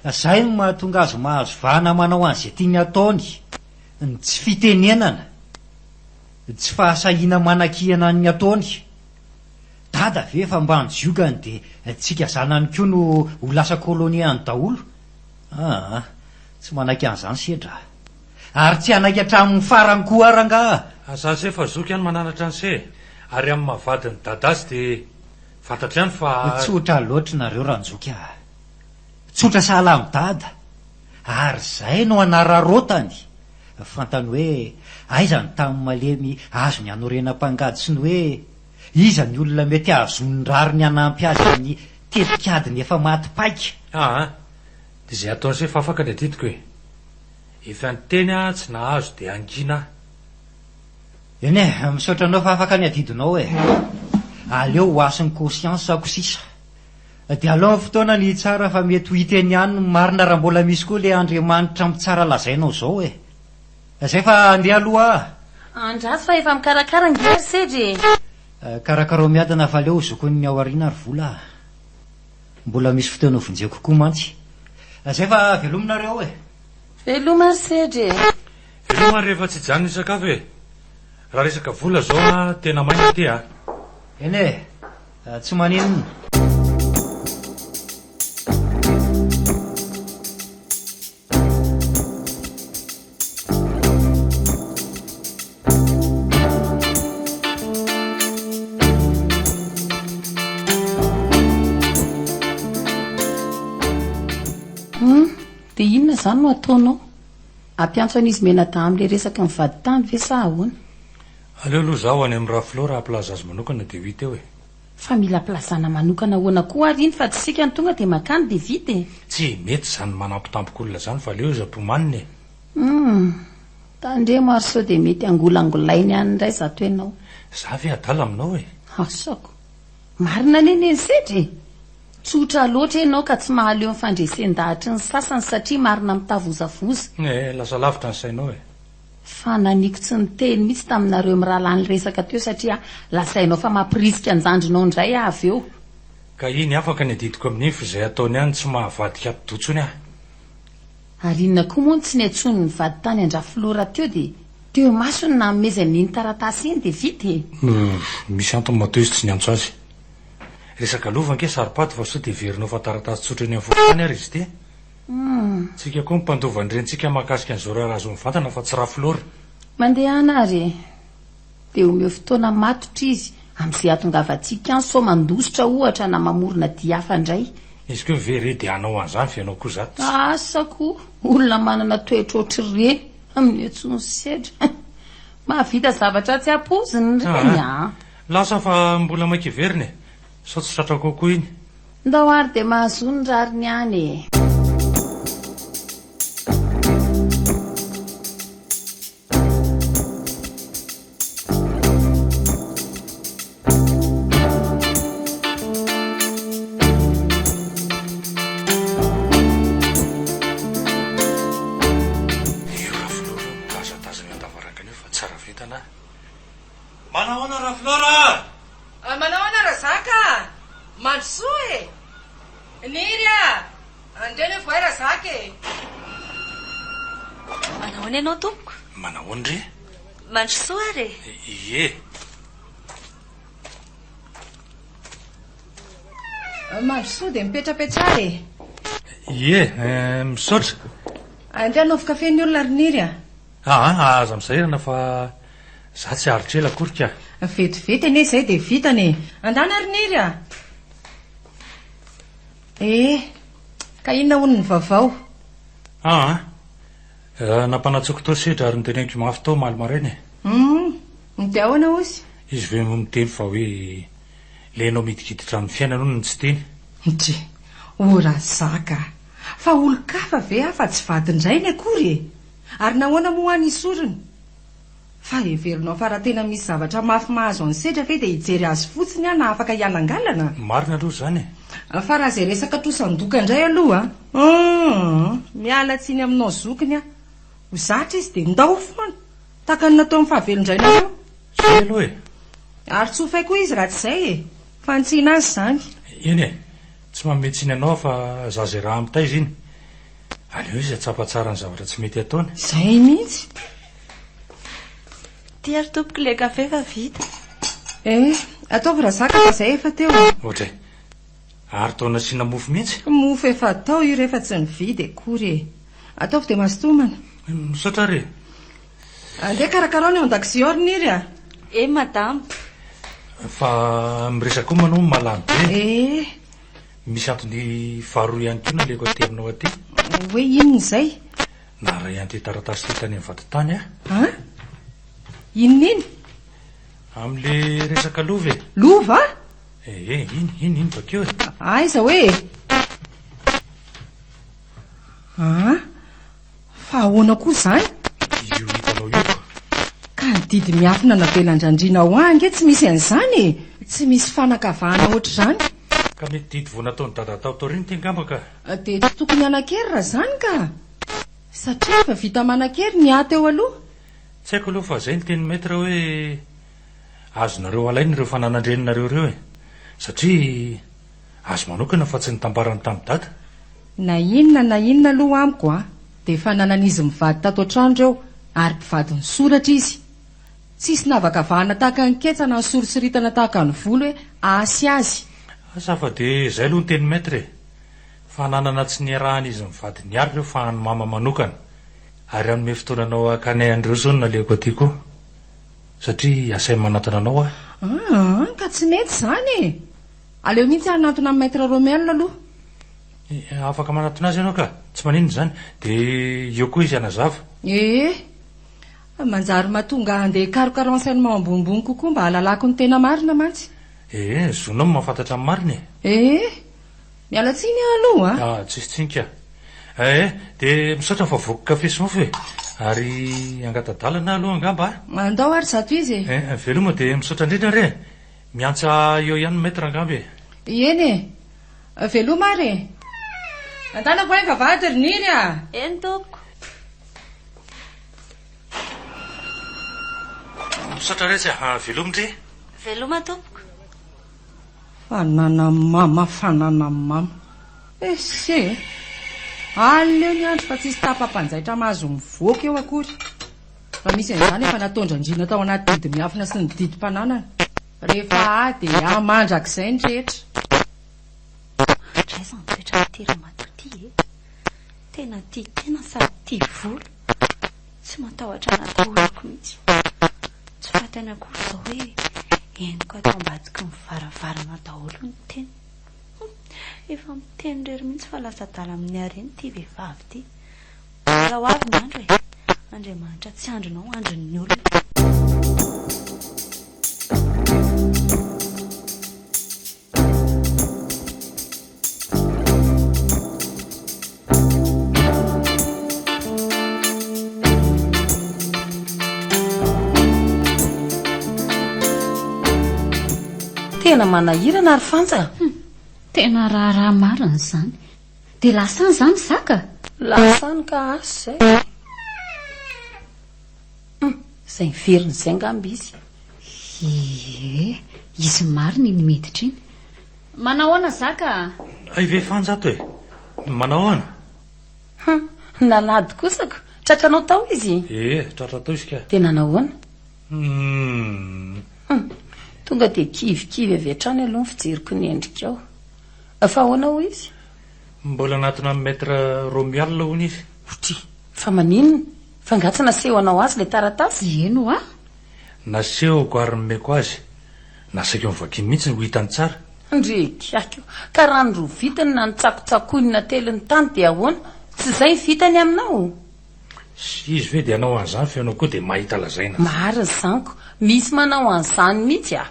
Izay no mahatonga azy mahazo vahana manao an'izay tiany ataony, ny tsy fitenenana, ny tsy fahasahiana manakihana ny ataony. Dada ve efa ambany jiogany dia tsika zanany koa no ho lasa kôlônia any daholo? Aa, tsy manaiky an'izany sedra. Ary tsy hanaiky hatramin'ny farany koa rangaha. Aza se fa zoky any mananatra any se ary amin'ny maha vadin'i Dadas dia fantatro ihany fa. Tsotra loatra nareo ranjoky ah. Tsotra sahala amin'i Dada. Ary izay no hanararaotany. Fantany hoe aiza ny tany malemy azony hanorenam-pangady sy ny hoe iza ny olona mety hahazoany rariny hanampy azy amin'ny tetikadiny efa maty paika. Aa, dia izay ataony se fa afaka ny adidiko e. Efa niteny aho tsy nahazo dia hangina aho. Eny e, misaotra anao fa afaka ny adidinao e. Aleo ho hasin'ny conscience-ko sisa. Dia alao ny fotoana no hitsara fa mety ho hita eny ihany ny marina raha mbola misy koa ilay Andriamanitra mitsara lazainao izao e. Izay fa andeha aloha aho. Andraso fa efa mikarakara ange ry sedra e. Karakarao miadana fa aleo ho zokin'ny aoriana ry vola a. Mbola misy fotoana ho vonjeo kokoa mantsy. Zay fa velominareo e! Veloma ry sedry e! Veloma ary rehefa tsy hijanona hisakafo e! Raha resaka vola zao a, tena maina ty a! Eny e! Tsy maninona. Dia inona izany no ataonao? Ampiantso an'izy mianadahy amin'ilay resaka ny vadintany ve sa ahoana? Aleo aloha izaho any amin'i Raflor haha-plaza azy manokana dia ho hita eo e! Fa mila plazana manokana ahoana koa ary iny fa tsy isika no tonga dia makany dia vita e! Tsy mety izany manampotampok'olona izany fa aleo izy ampomanina e! Humm! Tandremo ary sao dia mety hangolangolainy any indray izato ianao. Za ve adala aminao e! Asako! Marina anie neny sedra e! Tsotra loatra ianao ka tsy mahaleo ny fandresen-dahatry ny sasany satria marina mitavozavoza. Eh, lasa lavitra ny sainao e! Fa naniko tsy niteny mihitsy taminareo mirahalahy niresaka teo satria lazainao fa mampirisika anjandrinao indray aho avy eo. Ka iny afaka ny adidiko amin'iny f'izay ataony any tsy mahavadika atidoha intsony aho. Ary inona koa moa no tsy niantsoany nivady tany an-dRafiloha rahateo dia teo imasony nanomezany iny taratasy iny dia vita e! Misy antony matoa izy tsy niantso azy. Resaka lova ange saropady fa sao dia heverinao fa taratasy tsotra eny amin'ny fokontany ary izy ity? Tsika koa ny mpandova ny rentsika mahakasika an'izao raharaha izao mivantana fa tsy rafy loatra. Mandehana ary e! Dia omeo fotoana matotra izy amin'izay hahatongavantsika any sao mandositra ohatra na mamorona dihy hafa indray. Izy koa ve re dia hanao an'izany fa ianao koa za tsy. Asa koa olona manana toetra ohatr'ireny amin'io atsy ny sedra eh! Mahavita zavatra tsy ampoiziny ireny an! Lasa fa mbola maika hiverina e! Sao tsy tratra kokoa iny. Ndao ary dia mahazoa ny rariny any e. Hira folo ireo mitazatazana eo an-davarangana eo fa tsara vintana a! Manahoana Raflora a! Ah, manahoana Razaka a! Mandrosoa e! Niry a! Andeha ny voay Razaka e! Manahoana ianao tompoko? Manahoana re? Mandrosoa ary e! Ie! Mandrosoa dia mipetrapetraha e! Ie! Misaotra! Andeha hanaovy kafe ny olona ry Niry a! Aa aza misairana fa za tsy aritr ela akory ka. Vetivety anie izay dia vitana e. Andana ry Niry a! Ee, ka inona hono ny vaovao? Aa eh, nampanatsoiko tao sedra ary noteneniko mafy tao omaly maraina e. Humm, dia ahoana ozy? Izy ve moa miteny fa hoe ilay ianao midinkiditra amin'ny fiainany hono no tsy teny? Ndry, o Razaka a! Fa olon-kafa ve aho fa tsy vadin-drainy akory e! Ary nahoana moa ho'a ny sorona? Fa heverinao fa raha tena misy zavatra mafy mahazo an'i Sedra ve dia hijery azy fotsiny aho na afaka hialangalana? Marina aloha izany e! Fa raha izay resaka trosan-doka indray aloha a! Aa! Miala tsiny aminao zokiny aho. Ho zatra izy dia ndao foana, tahaka ny nataon'ny fahavelon-drainareo. Izay aloha e! Ary tsy ho fay koa izy raha tsy izay e! Fantsihina azy izany. Eny e! Tsy manome tsiny anao aho fa za izay raha ampitaiza iny. Aleo izy atsapa tsara ny zavatra tsy mety ataony. Zay mihitsy. Ty ary tompoko le kafe fa vita. Eh, ataovy razaka fa zay efa teo. Ohatray. Ary tao nasiana mofo mihitsy. Mofo efa tao io rehefa tsy nividy akory e. Ataovy dia mastomana. Misaotra ary. Andeha karakarao ny ao an-dakozia ao ry Niry a. Eh madame. Fa miresaka koa manao mahalany be. Eh. Misy antony faharoa ihany koa naleko aty aminao aty. Hoe inona izay? Naharay an'ity taratasy ity tany amin'ny vadintany aho. An? Inona iny? Amin'ilay resaka lova e. Lova? Eh, eh, iny, iny, iny bakeo e. Aiza hoe? An? Fa ahoana koa izany? Io hitanao io fa. Ka ny didy miafina navelan-dRandriana ho ahy ange tsy misy an'izany e! Tsy misy fanakavahana ohatr'izany. Ka mety didy vao nataon'i Dada tao taorian'ny ity angamba ka. Dia tsy tokony hanan-kery raha izany ka! Satria efa vita manan-kery ny ahy teo aloha. Tsy haiko aloha fa izay ny tenin'i Maître hoe azonareo alaina ireo fananan-dreninareo ireo e! Satria. Azy manokana fa tsy ny tambarany tamin'i Dada. Na inona na inona aloha amiko a, dia efa nanan'izy mivady tato an-trano ireo ary mpivadin'ny soratra izy. Tsisy nahavakavahana tahaka ny ketsa na nisorisoritana tahaka ny volo hoe hasy azy. Asa fa dia izay aloha ny teny Maître e! Fa nanana tsy niarahan'izy mivady niary ireo fa an'i Mama manokana. Ary hanome fotoana anao hakany an'ireo izao no nalehako aty koa. Satria asainy manatona anao aho. Aa ka tsy mety izany e! Aleo mihitsy aho hanantona an'i Maître Romuald aloha. Eh, afaka manantona azy ianao ka. Tsy maninona izany. Dia eo koa izy hanazava. Eh, manjary mahatonga ahy handeha hikaroka renseignement ambonimbony kokoa mba hahalalako ny tena marina mantsy. Eh, zonao ny mahafantatra ny marina e. Eh, miala tsiny aho aloha a. Ah, tsisy tsiny ka. Eh, dia misaotra fa voky kafe sy mofo e. Ary hangata-dalana aho aloha angamba a. Andao ary zato izy e. Eh, veloma dia misaotra indrindra re. Miantsa eo ihany ny maître angamba e! Eny e! Veloma ary e! Antanako ahy vavahady ry Niry a! Eny tompoko! Misaotra retsy a! Veloma ndry! Veloma tompoko! Fananamama fananamama! Ese e! Aleo ny andro fa tsisy tapa-panjaitra mahazo mivoaka eo akory! Fa misy an'izany efa nataon-dRandriana tao anaty didimiafina sy ny didim-pananana. Rehefa ahy dia ahy mandrakizay ny rehetra. Hatraiza ny toetran'ity ramatoa ity e? Tena tia tena sady tia vola. Tsy matahotra ny atahorako mihitsy. Tsy fantany akory izao hoe henoko ato ambadiky ny varavarana daholo ny teniny. Hum, efa miteny irery mihitsy fa lasa adala amin'ny hareny ity vehivavy ity. Aleo ho avy ny andro e! Andriamanitra tsy andrinao, andrin'ny olona. Tena manahirana ry Fantsa a! Tena raharaha marina izany. Dia lasa any izany zaka? Lasa any ka asy izay e! Hum, izay niverina izay angamba izy. Ie, izy marina iny miditra iny. Manahoana zaka a? Hay ve Fanjato e! Manahoana? Hum, nalady kosa ko! Tratranao tao izy? Ie, tratra tao izy ka. Dia nanahoana? Hum. Hum, tonga dia kivy kivy avy hatrany aloha ny fijeriko ny endrikao. Fa ahoana hoy izy? Mbola anatona an'i Maître Romuald hono izy. Hotry, fa maninona? Fa nga tsy nasehonao azy ilay taratasy? Eny hoa! Nasehoko ary nomeko azy. Nasaiko novakiany mihitsy ny ho hitany tsara. Ndryy! Aiko! Ka raha ny roa vitany na ny tsakotsakoiny nateliny tany dia ahoana? Tsy izay ny vitany aminao? Sy izy ve dia hanao an'izany fa ianao koa dia mahita lazaina? Marina izany ko! Misy manao an'izany mihitsy a!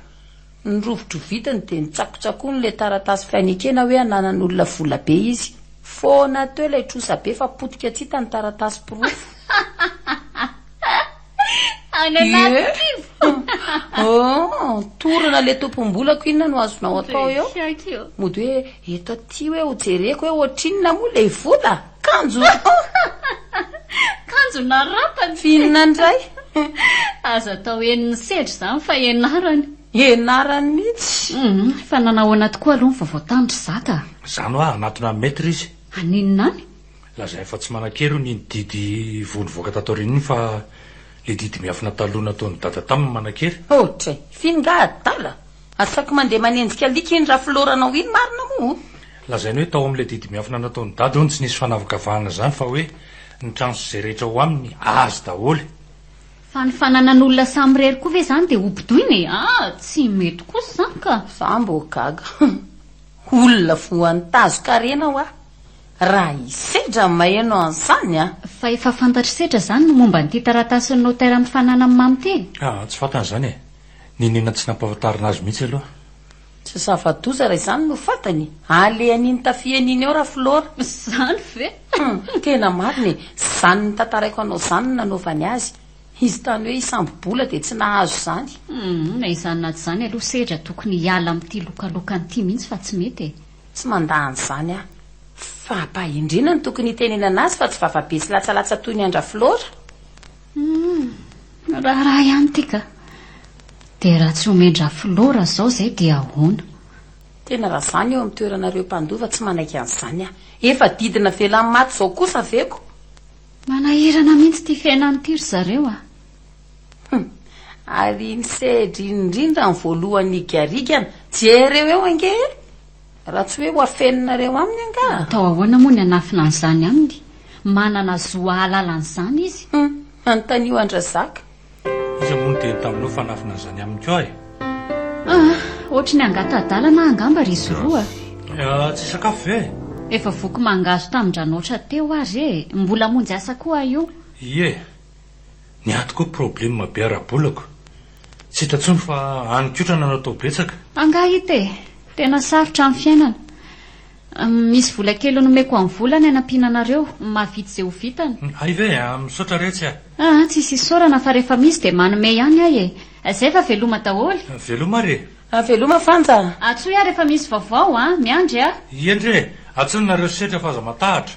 Ny rovidrovitiny dia nitsakotsakony ilay taratasy fainekena hoe ananan'olona vola be izy. Foana teo ilay trosa be fa potika tsy hita ny taratasy porofo. Any anaty kibo! Ooh! Torana ilay tompom-bolako inona no azonao atao eo? Mody hoe eto aty hoe ho jereko hoe ohatrinona moa ilay vola? Kanjo! Kanjo na rapany! Finina ndray! Aza atao enin'ny sedra izany fa enarany! Enarany mihitsy! Hum, fa nanao ahoana tokoa aloha ny vaovao tany ry Zaka? Zany hoa hanatona an'i Maître izy. Haninona any? Lazainy fa tsy manan-kery hono iny didy voa nivoaka tato aoriana iny fa ilay didy miafina taloha nataon'i Dada taminy manan-kery. Ohatra e! F'iny nga adala! Asaiko mandeha manenjika alika iny rafilôranao iny marina moa o! Lazainy hoe tao amin'ilay didimiafina nataon'i Dada hono tsy nisy fanavakavahana izany fa hoe ny trano sy izay rehetra ao aminy azy daholo. Fa ny fananan'olona samy irery koa ve izany dia hobodoina e? Ah! Tsy mety kosa izany ka! Za mbo gaga. Olona voan-tazo-karena hoa raha hisedra ny maheno an'izany a! Fa efa fantatr'i Sedra izany ny momba an'ity taratasin'ny notera mifanana amin'i Mamy ity? Ah! Tsy fantany izany e! Nenina tsy nampahafantarina azy mihitsy aloha. Tsy zava-doza raha izany no fatany. Alehan'iny tafiany iny ao ra Flora. Zany ve? Tena marina e! Zany notantaraiko anao zany no nanaovany azy. Izy tany hoe hisambo-bola dia tsy nahazo izany. Na izany na tsy izany aloha sedra tokony hiala amin'ity lokalokany ity mihitsy fa tsy mety e! Tsy mandà an'izany aho. Fampahendrena no tokony hitenenana azy fa tsy vava be sy latsalatsa toy ny an-dRaflora. Humm! raharaha ihany ity ka! Dia raha tsy omen-dRafiloha raha izao izay dia ahoana? Tena raha izaho ny eo amin'ny toeranareo mpandova tsy manaiky an'izany aho. Efa didina velany maty izao kosa ve ko? Manahirana mihitsy ity fiainana ity ry zareo a! Humm! ary ny seedriny indrindra ny voalohany higarigana, jereo eo ange e! Raha tsy hoe ho afeninareo aminy angaha? Atao ahoana moa ny hanafina an'izany aminy? Manana zo hahalala an'izany izy. Hum, anontanio an-dRazaka. Iza moa no niteny taminao fa hanafina an'izany aminy koa e? Ah, ohatry ny hangata-dalana angamba ry Zoro a! Ah, tsy hisakafo ve? Efa voky mangahazo tamin-dRanoatra teo ary e! Mbola hamonjy asa koa aho io. Ie. Ny ato koa probleme be ara-bolako. Tsy hita intsony fa any kotra nanao tao betsaka. Angaha hita e! Tena sarotra amin'ny fiainana. Misy vola kely nomeko an'i Vola ny hanampiana anareo. Mahavita izay ho vitany. Hay ve e! Misaotra retsy a! Aa tsisy isaorana fa rehefa misy dia manome ihany ahy e! Izay fa veloma daholo. Veloma ary e! Veloma Fanja a! Atsoy aho rehefa misy vaovao a! Miandry a! Iendry e! Atsoy nareo setra fa aza matahatra.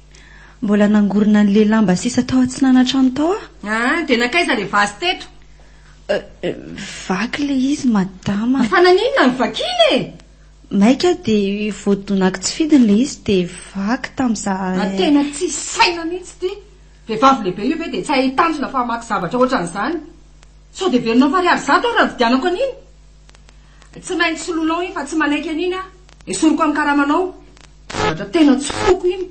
Mbola nangorona an'ilay lamba sisa tao atsinanantrano tao aho. Ah, dia nankaiza ilay vazy teto? Vaky ilay izy, madama. Fa naninona no vakiana e? Maika dia voadonako tsy fidiny ilay izy dia vaky tamin'izahay. Ah, tena tsy saina mihitsy ity. Vehivavy lehibe io ve dia tsy hahay tanjona fa hamaky zavatra hoatran'izany? Sao dia velona farihy ary zato aho raha nividianako an'iny? Tsy maintsy solonao iny fa tsy manaiky an'iny aho. Esoriko amin'ny karamanao. Zavatra tena tsy foko iny.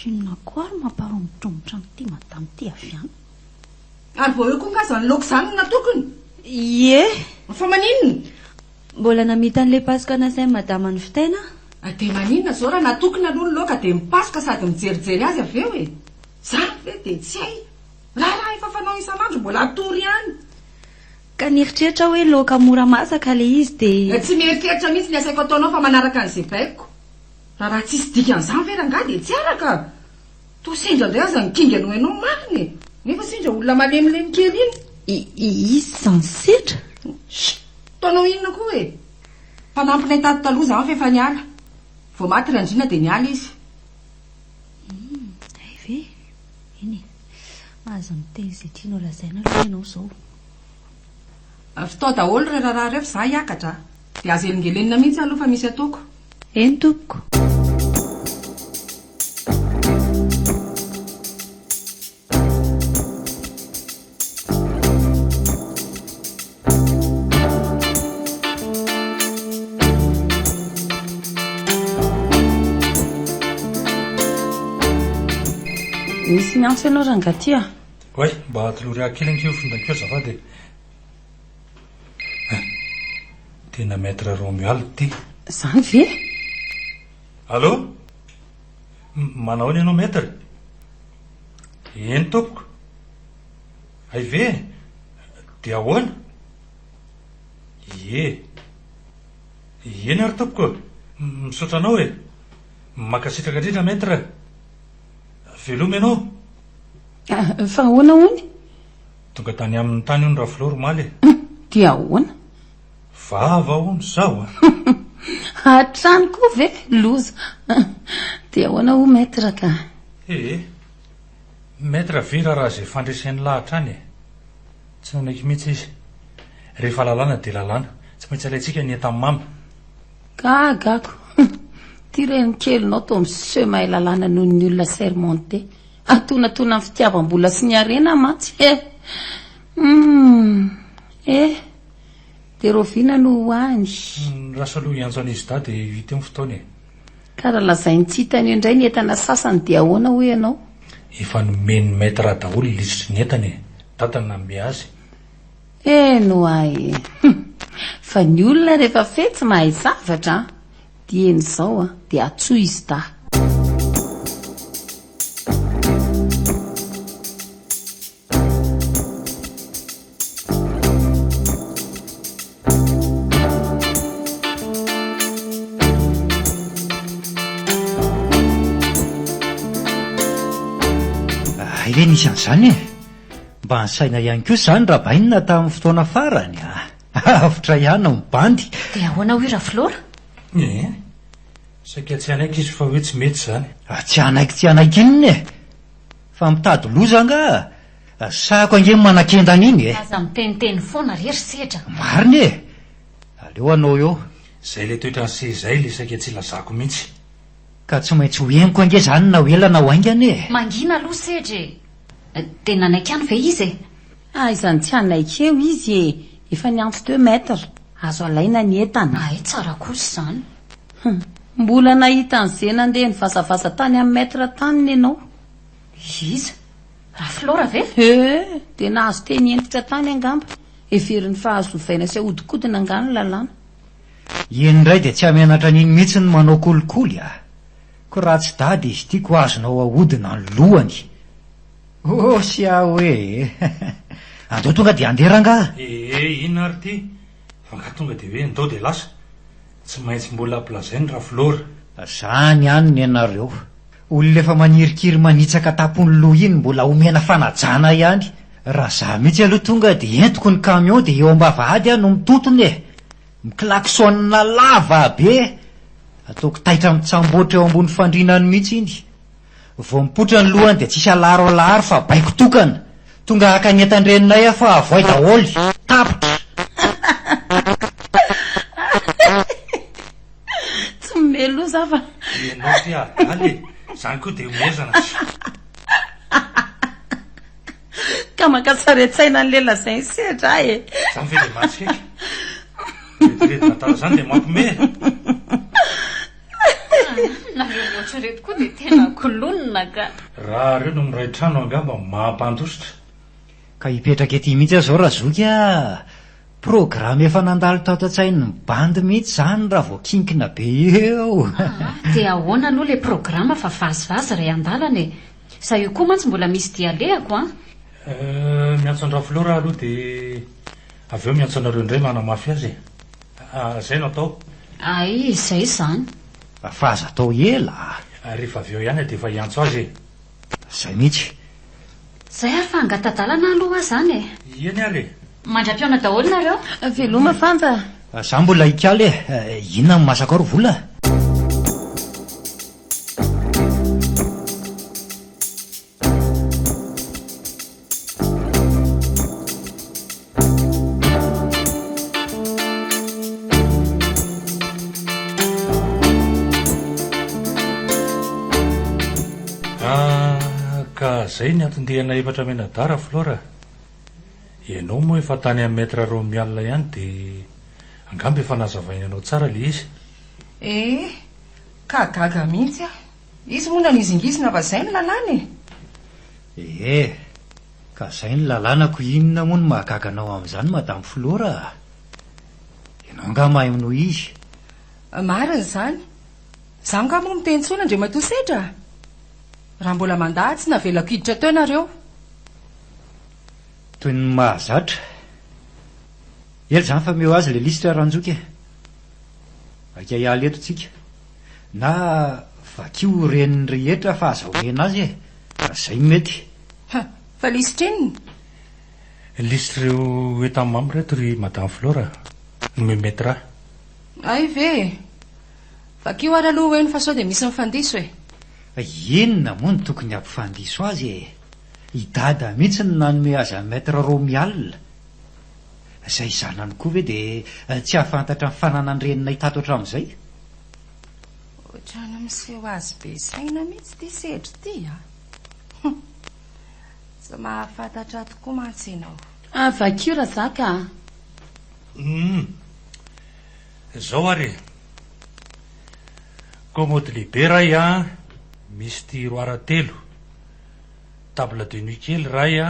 Inona koa ary mamparomotromotra an'ity madame ity avy any? Ary vao eo koa nga zany loka zany no natokony? Ie. Fa maninona? Mbola namita an'ilay pasoka nasain'i madama novitaina aho. Ah dia maninona zao raha natokony aloha ny loka dia mipasoka sady mijerijery azy avy eo e? Zany ve dia tsy hay? Raharaha efa fanao isan'andro mbola hatory ihany. Ka nieritreritra aho hoe loaka mora masaka ilay izy dia. Tsy mieritreritra mihitsy ny asaiko ataonao fa manaraka an'izay baiko. Raha tsisy dikan'izany ve rangahy dia tsy araka. Toa sendra indray aza ny kinga no hainao marina e. Nefa sendra olona malemilemy kely iny. I, izy izany sendra. Sh! Toa hanao inona koa e. Mpanampy nentady taloha izaho fa efa niala. Vao maty Randriana dia niala izy. Hum, hay ve? Eny e. Aza miteny izay tianao lazaina aloha ianao izao. Fitao daholo ireo raharaha ireo fa za hiakatra a! Dia aza elingelenina mihitsy aloha fa misy ataoko. Eny tompoko. Misy miantso ianao rangah ty ah. Oay, mba atolory ahy kely ange io findako io azafady e. Hein, tena Maître Romuald ity. Zany ve? Allô? M, manahoana ianao Maître? Eny tompoko. Hay ve? Dia ahoana? Ie. Eny ary tompoko, misaotra anao e! Mankasitraka indrindra Maître! Veloma ianao! Fa ahoana hono? Tonga tany aminy tany hono Rafiloro omaly e! Dia ahoana? Vava hono zaho a! Hatrany koa ve? Loza! Dia ahoana hono Maître ka? Ee. Maître Vera raha izay fandreseny lahy hatrany e! Tsy nanaiky mihitsy izy. Rehefa lalàna dia lalàna. Tsy maintsy alaintsika ny entany mamy. Gaga ako! Hum! Ity renikelinao toa miseho mahay lalàna noho ny olona sermenté. Atonatona ny fitiavam-bola sy ny harena mantsy. He! Hum! He! Dia rahoviana no ho any? Ny Rasoloha hiantso an'izy dahy dia hita eo ny fotoana e! Ka raha lazainy tsy hitan'io indray ny entana sasany dia ahoana hoy ianao? Efa nomen'ny maître daholo lisitry ny entana e! Dada no nanome azy. Eny hoa e! Hum! Fa ny olona rehefa feh tsy mahay zavatra an! Dieny izao an! Dia atsoy i Zda. Hay ve nisy an'izany e! Mba nisaina ihany koa izany Rabainina tamin'ny fotoana farany a! Avotra ihany ny bandy! Dia ahoana hoy Rafilora? Ee, saika tsy hanaiky izy fa hoe tsy mety izany. Tsy hanaiky tsy hanaiky inona e! Fa mitady loza angaha? Resahiko ange ny manakenda an'iny e! Aza miteniteny foana re ry sedra. Marina e! Aleo anao eo. Zay ilay toetran'i se izay ilay saika tsy ilazako mihitsy. Ka tsy maintsy ho henoko ange izany na ho ela na ho haingana e! Mangina aloha sedra e! Dia nanaiky any ve izy e? Aiza ny tsy hanaiky eo izy e! Efa niantso deux mètres. Azo alaina ny entana. Hay tsara kosa izany. Hum. Mbola nahita an'i ze nandeha nivazavaza tany amin'ny maître tany ny anao? Iza? Rafilora ve? Ee, dia nahazo teny hentitra tany angamba, heveriny fa azo ovaina sy ahodikodina angaha ny lalàna. Iny indray dia tsy hamenatra an'iny mihitsy ny manao kolikoly a! Ko raha tsy dada izy ity ko azonao ahodina ny lohany! Oh sia hoe e! Andao tonga dia handeha rangaha! Ee inona ary ity fa angaha tonga dia hoe ndao dia lasa? Tsy maintsy mbola ampilazaiNy Rafolora. Zany ihany ny anareo. Olona efa manirikiry manitsaka tapon'ny loha iny mbola omena fanajana ihany. Raha za mihitsy aloha tonga dia entiko ny camion dia eo ambavahady aho no mitontona e! Miklaxonina lava be! Ataoko taitra mitsamboatra eo ambony fandriana any mihitsy iny. Vao mipoitra ny lohany dia tsisy alaro alaro fa baiko tokana, tonga haka ny entan-dreninay aho fa avoay daholo, tapitra. Tsy mimehy loha za fa. Ianao ty adala e, zany koa dia omezana sa. Ka maka sarintsaina an'le lazain'i sedra e. Zany ve dia mahatsikaiky? Rediredy natao zany dia mampime e. Nareo roatra reto koa dia tena kolonina ka. Raha reo no miray trano angamba mampandositra. Ka hipetraka ety mihitsy aho zao Razoky a! Programme efa nandalo tato an-tsain'ny bandy mihitsy izany raha vao kinkina be eo. Aa! Dia ahoana aloha ilay programme fa vazivazy ry andalana e! Za io koa mantsy mbola misy dia alehako an! Euh, miantso an-dRafiloha rah aloha dia avy eo miantso anareo indray manamafy azy e! A, zay no atao. A, izay izany. A, fa aza atao ela a. A, rehefa avy eo ihany a, dia efa hiantso azy e. Zay mihitsy. Zay ary fa angatadalana aloha hoa zany e. Eny ary e. Mandra-pihaona daholo nareo. Veloma Fanja a. A, za mbola hikaly e. Inona no masaka ao ry vola a? Zay ny anton-diana efatra menadara Flora a! Ianao moa efa tany amin'ny Maître Romy alina ihany dia angamba efa nazavainao tsara ilay izy. Eh, ka gaga mihitsy aho. Izy moa nanizingizina fa zay ny lalàna e! Ee, ka zay ny lalàna ko inona moa no mahagaga anao amin'izany Madame Flora a! Ianao angaha mahay minoa izy? Marina izany. Izaho angaha moa miteny intsony Andriamatoa Sedra a! Raha mbola mandà aho tsy navelako hiditra teo nareo. Toy ny mahazatra. Ela izany fa omeo azy ilay lisitra Ranjoky e! Aika hiala eto tsika. Na vakio ho ren'ny rehetra fa aza omena azy e! Fa zay mety. Ha! Fa lisitr'inona? Lisitr'ireo état membre eto ry Madame Flora no memetra. Hay ve e! Vakio ary aloha ho'eny fa sao dia misy mifandiso e! Fa inona moa no tokony hampifandiso azy e! I Dada mihitsy no nanome azy an'i Maître Romy alina. Izay zanany koa ve dia tsy hahafantatra ny fananan-dreninay tato hatramin'izay? Ohatran'ny miseho azy be saina mihitsy ity sedry ity a! Hum! Tsy mahafantatra tokoa mantsy ianao. Ah, vakio Razaka a! Hum! Izao ary e! Commode lehibe ray a, misy tiroara telo, table de nuit kely ray a,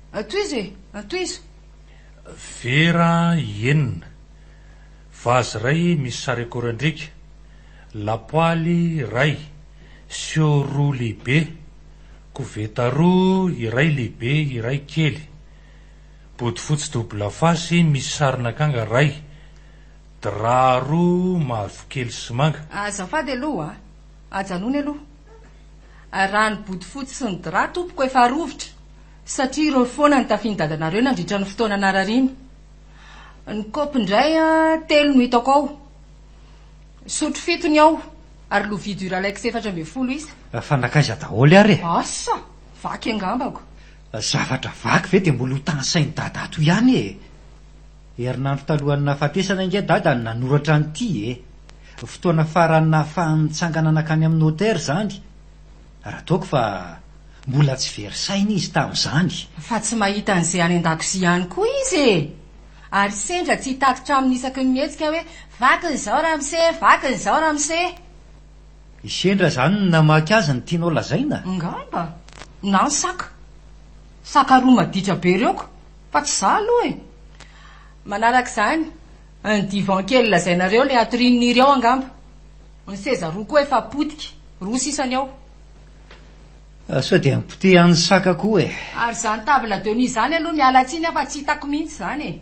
Tohizo e! Tohizo! Vera enina, vazy iray misy sary akorandriaka, lapoaly iray, siô roa lehibe, koveta roa, iray lehibe, iray kely, bodofotsy double face misy sarin'akanga iray, drap roa mavokely sy manga. Azafady aloha a! Ajanony aloha. Araho ny bodofotsy sy ny drap tompoko efa arovitra satria ireo foana no tafian'ny dadanareo nandritra ny fotoana narariana. Ny kaopy indray telo no hitako ao, sotro fito ny ao ary lovia duralex efatra ambin'ny folo isa. Fa nankaiza daholo ary e? Asa! Vaky angambako. Zavatra vaky ve dia mbola ho tanisain'i dada ato ihany e? Herinandro talohan'ny nahafatesana ange Dada no nanoratra an'ity e! Fotoana farany nahafahany nitsangana nankany amin'ny notaire izany, raha toa ko fa mbola tsy very saina izy tamin'izany. Fa tsy mahita an'izay any an-dakozia ihany koa izy e! Ary sendra tsy hitatitra aminy isaky ny mihetsika hoe, vakiny izao ramose, vakiny izao ramose. I Sendra izany no namaky azy ny tianao lazaina? Angamba. Na ny saka. Saka roa maditra be ireo ko! Fa tsy za aloha e! Manaraka izany, ny divan kely lazainareo, ilay atorian'i Niry ao angamba. Ny seza roa koa efa potika, roa sisa ny ao. Sao dia ampotehan'ny saka koa e! Ary izany table de nuit izany aloha miala tsiny aho fa tsy hitako mihitsy izany e!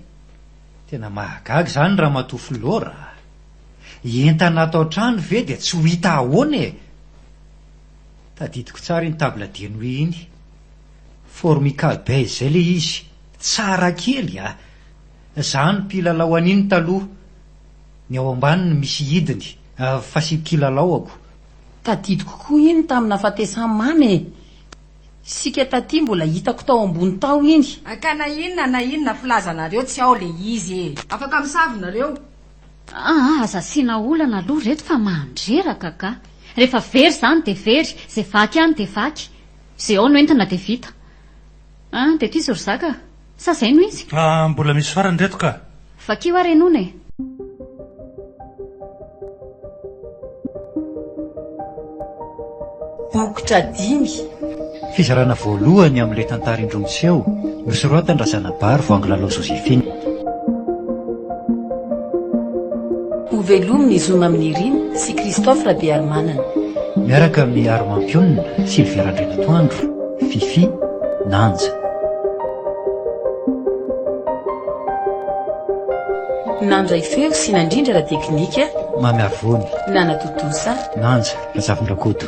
Tena mahagaga izany Ramatoa Flora a! Entana ato an-trano ve dia tsy ho hita ahoana e! Tadidiko tsara iny table de nuit iny. Formica be izay le izy, tsara kely a! Za no mpilalao an'iny taloha, ny ao ambany no misy hidiny, fa sy kilalaoako. Tadidiko koa iny tamina fatesan mamy e! Isika taty mbola hitako tao ambony tao iny. Ka na inona na inona filaza nareo tsy ao le izy e! Afaka misavy nareo. Aa aza asiana olana aloha reto fa mandreraka ka! Rehefa very izany dia very, izay vaky any dia vaky. Ze ao no entina dia vita. An, dia tohizo ry zaka a! Sa zay no izy? An, mbola misy farany reto ka! Vakio ary enona e! Bokotra dimy. Fizarana voalohany amin'ilay tantara indroa miseho, nosoratan-dRazanabary vao Anglalao Joséphine. Ho velomy ny zo mamin'i Irina sy Christophe Rabearimanana. Miaraka amin'i Armampionona, Sylvia Randrianatoandro, Fifi, Nanja. Nandray feo sy nandrindra ara-teknika, Mamy Arvony. Nanatontosa. Nanja Razafindrakoto.